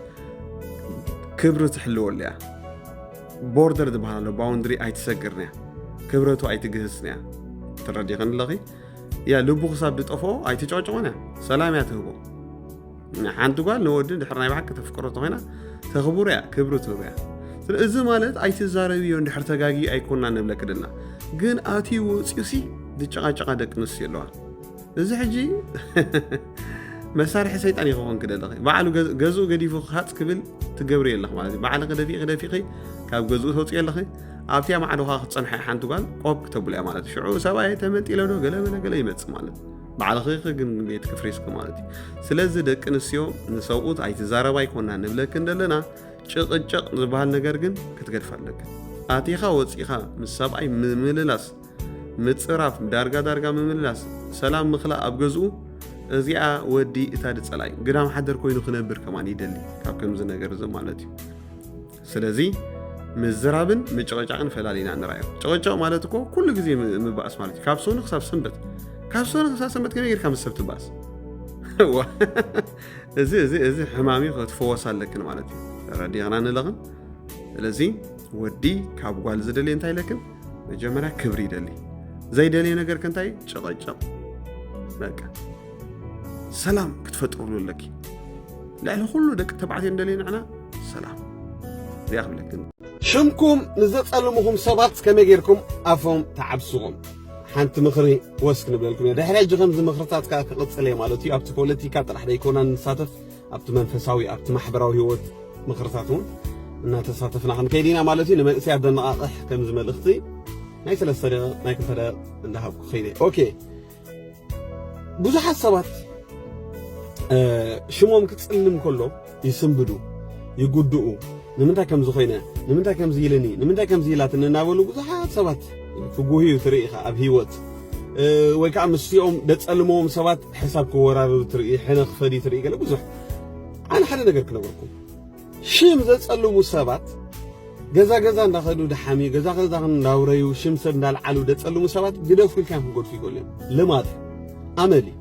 ክብሪ ትሕልወሉ እያ ቦርደር ዝበሃል ኣሎ ባውንድሪ ኣይትሰግርን እያ ክብረቱ ኣይትግህስን እያ ትረዲኽን ኣለኺ እያ ልቡ ክሳብ ዝጠፍኦ ኣይትጨቅጭቆን እያ ሰላም እያ ትህቦ ሓንቲ ጓል ንወዲ ድሕር ናይ ብሓቂ ተፍቅሮ ተኮይና ተኽብሮ እያ ክብሪ ትህቦ እያ እዚ ማለት ኣይትዛረብዮ እንድሕር ተጋጊ ኣይኮና ንብለክ ደና ግን ኣቲ ወፅዩሲ ዝጨቃጨቃ ደቂ ኣንስትዮ ኣለዋ እዚ ሕጂ መሳርሒ ሰይጣን ይኸውን ክደለኺ ባዕሉ ገዝኡ ገዲፉ ክሃፅ ክብል ትገብሪ የለኽ ማለት እዩ ባዕልኺ ደፊ ክደፊኺ ካብ ገዝኡ ተውፅኦ ኣለኺ ኣብቲያ ማዕዶኻ ክትፀንሓ ሓንቲ ጓል ቆብ ክተብልያ ማለት ሽዑ ሰብኣየ ተመንጢለ ዶ ገለ በለ ገለ ይመፅእ ማለት ባዕልኺ ግን ቤት ክፍሪስኪ ማለት እዩ ስለዚ ደቂ ኣንስትዮ ንሰብኡት ኣይትዛረባ ይኮና ንብለኪ እንደለና ጭቕጭቕ ዝበሃል ነገር ግን ክትገድፍ ኣለኪ ኣቲኻ ወፂኻ ምስ ሰብኣይ ምምልላስ ምፅራፍ ዳርጋ ዳርጋ ምምልላስ ሰላም ምክላእ ኣብ ገዝኡ እዚኣ ወዲ እታ ድፀላዩ ግዳም ሓደር ኮይኑ ክነብር ከማን ይደሊ ካብ ከምዚ ነገር እዚ ማለት እዩ ስለዚ ምዝራብን ምጭቕጫቕን ፈላሊና ንራዮ ጨቕጫቕ ማለት እኮ ኩሉ ግዜ ምባእስ ማለት እዩ ካብ ሶኒ ክሳብ ሰንበት ካብ ሶኒ ክሳብ ሰንበት ከመይ ጌርካ ምስ ሰብ ትባእስ እዚ እዚ እዚ ሕማሚ ክትፈወስ ኣለክን ማለት እዩ ተረዲቕና ንለቕን ስለዚ ወዲ ካብ ጓል ዝደልየ እንታይ ኢለክን መጀመርያ ክብሪ ይደሊ ዘይደልየ ነገር ከንታይ ጨቐጨቕ በቃ ሰላም ክትፈጥርሉ ኣለኪ ልዕሊ ኩሉ ደቂ ተባዕትዮ እንደልዮ ንሕና ሰላም እዚኣ ክብለክን ሽምኩም ንዘጸልምኹም ሰባት ከመይ ጌርኩም ኣፎም ተዓብስዎም ሓንቲ ምኽሪ ወስክ ንብለልኩም እየ ድሕሪ ሕጂ ከምዚ ምኽርታት ከዓ ክቕፅል እየ ማለት እዩ ኣብቲ ፖለቲካ ጥራሕ ደይኮና ንሳተፍ ኣብቲ መንፈሳዊ ኣብቲ ማሕበራዊ ህይወት ምኽርታት እውን እናተሳተፍና ክንከይድ ኢና ማለት እዩ ንመንእሰያት ዘነቓቕሕ ከምዚ መልእኽቲ ናይ ሰለስተ ደቂቕ ናይ ክልተ ደቂቕ እንዳሃብኩ ከይደ ኦኬ ብዙሓት ሰባት ሽሞም ክጽልም ከሎ ይስንብዱ ይጉድኡ ንምንታይ ከምዚ ኮይነ ንምንታይ ከምዚ ኢልኒ ንምንታይ ከምዚ ኢላትኒ እናበሉ ብዙሓት ሰባት ክጉህዩ ትርኢ ኢኻ ኣብ ሂወት ወይ ከዓ ምስኦም ደጸልምዎም ሰባት ሕሳብ ክወራረዱ ትርኢ ሕነ ክፈዲ ትርኢ ገለ ብዙሕ ኣነ ሓደ ነገር ክነግረኩም ሽም ዘጸልሙ ሰባት ገዛ ገዛ እንዳኸዱ ድሓምዩ ገዛ ገዛ እንዳውረዩ ሽም ሰብ እንዳልዓሉ ደጸልሙ ሰባት ግደፉ ኢልካዮም ክገድፉ ይኽእሉ እዮም። ልማድ ኣመል እዩ።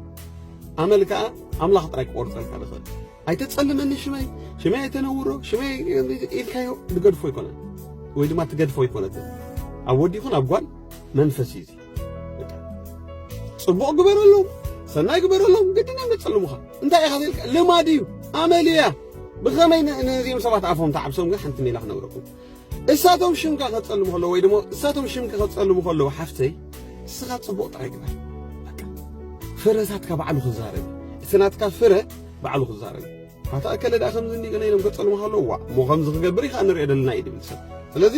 ኣመል ከዓ ኣምላኽ ጥራይ ክቆርጸልካ ዝኽእል ኣይተጸልመኒ ሽመይ ሽመይ ኣይተነውሮ ሽመይ ኢልካዮ ዝገድፎ ኣይኮነን ወይ ድማ ትገድፎ ኣይኮነትን ኣብ ወዲ ይኹን ኣብ ጓል መንፈስ እዩ ጽቡቕ ግበረሎም፣ ሰናይ ግበረሎም፣ ግድን እዮም ዘጸልሙኻ። እንታይ ኢኻ ዘልካ ልማድ እዩ፣ ኣመል እያ። ብኸመይ ነዚኦም ሰባት ኣፎም ተዓብሶም ግን ሓንቲ ሜላ ክነግረኩም እሳቶም ሽምካ ከጸልሙ ከለዉ ወይ ድማ እሳቶም ሽምኪ ከጸልሙ ከለዉ ሓፍተይ ንስኻ ጽቡቕ ጥራይ ግበር ፍረታትካ ባዕሉ ክዛረብ እቲ ናትካ ፍረ ባዕሉ ክዛረብ ኣታ ኣከለ ደኣ ከምዚ እንዲዩ ገለ ኢሎም ከጸልሙኻ ኣለዉ ዋእ እሞ ከምዚ ክገብር ኢኻ ንሪኦ ደለና ኢዩ ድብል ሰብ ስለዚ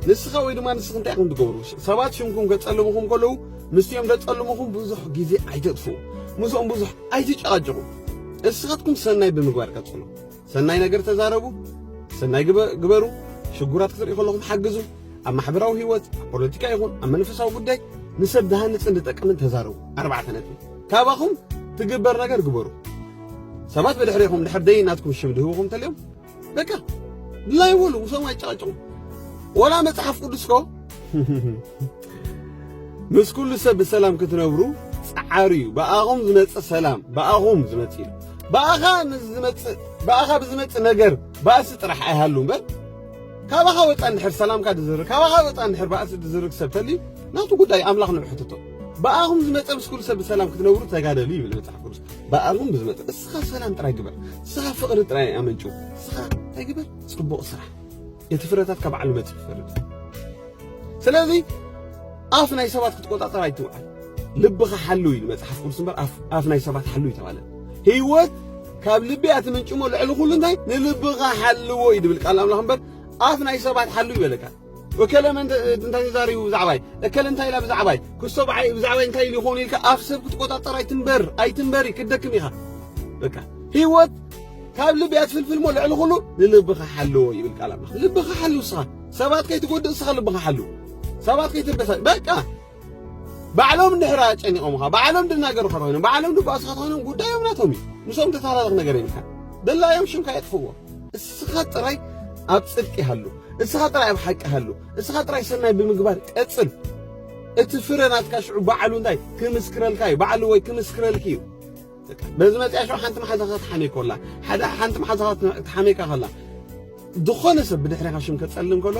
ንስኻ ወይ ድማ ንስኺ እንታይ ኢኹም ትገብሩ ሰባት ሽምኩም ከጸልሙኹም ከለዉ ምስቲኦም ደጸልሙኹም ብዙሕ ግዜ ኣይተጥፍኡ ምስኦም ብዙሕ ኣይትጨቓጨቑ እስኻትኩም ሰናይ ብምግባር ቀጽሉ ሰናይ ነገር ተዛረቡ ሰናይ ግበሩ ሽጉራት ክትሪኡ ከለኹም ሓግዙ ኣብ ማሕበራዊ ህይወት ኣብ ፖለቲካ ይኹን ኣብ መንፈሳዊ ጉዳይ ንሰብ ዝሃንጽን ዝጠቅምን ተዛረቡ ኣርባዕተ ነጥቢ ካባኹም ትግበር ነገር ግበሩ። ሰባት ብድሕሬኹም ድሕር ደይ ናትኩም ሽም ድህብኹም እንተልዮም በቃ ድላይ በሉ ውሶም ኣይጨቃጨቁ። ወላ መጽሓፍ ቅዱስ ኮ ምስ ኩሉ ሰብ ብሰላም ክትነብሩ ጸዓሩ እዩ። ብኣኹም ዝመጽእ ሰላም ብኣኹም ዝመጽእ እዩ። ብኣኻ ምስ ዝመጽእ ብኣኻ ብዝመጽእ ነገር ባእሲ ጥራሕ ኣይሃሉ እምበር ካባኻ ወጻ እንድሕር ሰላምካ ድዝርግ ካባኻ ወጻ እንድሕር ባእሲ ድዝርግ ሰብ ተልዩ ናቱ ጉዳይ ኣምላኽ ንብሕትቶ ብኣኹም ዝመጸ ምስ ኩሉ ሰብ ብሰላም ክትነብሩ ተጋደሉ ይብል መጽሓፍ ቅዱስ። ብኣኹም ብዝመጸ እስኻ ሰላም ጥራይ ግበር፣ እስኻ ፍቕሪ ጥራይ ኣመንጭው፣ እስኻ እንታይ ግበር ጽቡቕ ስራሕ፣ እቲ ፍረታት ካብ ባዕሉ መጽእ ይፈርድ። ስለዚ ኣፍ ናይ ሰባት ክትቆጻጸር ኣይትውዓል፣ ልብኻ ሓሉ ኢሉ መጽሓፍ ቅዱስ እምበር ኣፍ ናይ ሰባት ሓሉ ይተባለ ህይወት ካብ ልቢ እያ ትምንጭሞ ልዕሊ ኩሉ እንታይ ንልብኻ ሓልዎ እዩ ድብል ቃል ኣምላኽ እምበር ኣፍ ናይ ሰባት ሓሉ ይበለካ እከለ መን እንታይ ተዛሪቡ ብዛዕባይ እከለ እንታይ ኢላ ብዛዕባይ ክሶ ብዓይ ብዛዕባይ እንታይ ኢሉ ይኸውን ኢልካ ኣፍ ሰብ ክትቆጻጸር ኣይትንበር ኣይትንበሪ ክትደክም ኢኻ በቃ ህይወት ካብ ልቢ እያ ትፍልፍል እሞ ልዕሊ ኩሉ ንልብኻ ሓልዎ ይብል ቃል ኣምላኽ ልብኻ ሓሉ ንስኻ ሰባት ከይትጎድእ ንስኻ ልብኻ ሓሉ ሰባት ከይትበሳጭ በቃ ባዕሎም እንድሕር ኣጨኒቖምኻ፣ ባዕሎም ደናገርካ ኮይኖም፣ ባዕሎም ድባእስኻ ኮይኖም ጉዳዮም ናቶም እዩ። ምስኦም ተተሃላለኽ ነገር የብልካ። ደላዮም ሽምካ የጥፍዎ። እስኻ ጥራይ ኣብ ጽድቂ ሃሉ፣ እስኻ ጥራይ ኣብ ሓቂ ሃሉ፣ እስኻ ጥራይ ሰናይ ብምግባር ቀጽል። እቲ ፍረ ናትካ ሽዑ ባዕሉ እንታይ ክምስክረልካ እዩ፣ ባዕሉ ወይ ክምስክረልኪ እዩ። በዚ መጽያ ሸው ሓንቲ መሓዛኻ ትሓመይ ኮላ ሓደ ሓንቲ መሓዛኻ ትሓመይካ ከላ ዝኾነ ሰብ ብድሕሪኻ ሽም ከጸልም ከሎ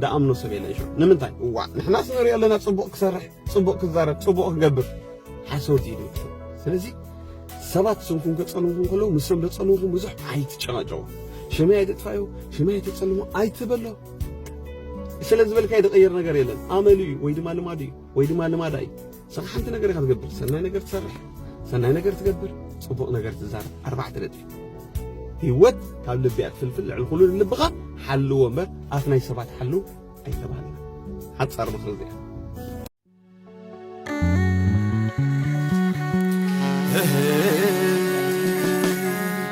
ደኣምኖ ሰብ የለን ሸው ንምንታይ እዋ ንሕናስ ንሪኦ ኣለና ጽቡቕ ክሰርሕ ጽቡቕ ክዛረብ ጽቡቕ ክገብር ሓሶት እዩ ደቂ ስለዚ ሰባት ስምኩም ከጸልምኩም ከለዉ ምስም ዘጸልምኩም ብዙሕ ኣይትጨናጨው ሽመይ ኣይትጥፋዩ ሽመይ ኣይትጸልሙ ኣይትበሎ ስለ ዝበልካ ይድቐይር ነገር የለን ኣመሉ እዩ ወይ ድማ ልማዱ እዩ ወይ ድማ ልማዳ እዩ ንስኻ ሓንቲ ነገር ኢኻ ትገብር ሰናይ ነገር ትሰርሕ ሰናይ ነገር ትገብር ፅቡቕ ነገር ትዛረብ ኣርባዕተ ነጥቢ ህይወት ካብ ልቢ እያ ትፍልፍል ልዕሊ ኩሉ ንልብኻ ሓልዎ እምበር ኣፍ ናይ ሰባት ሓልው ኣይተባህልና ሓፃር ምኽሪ እዚኣ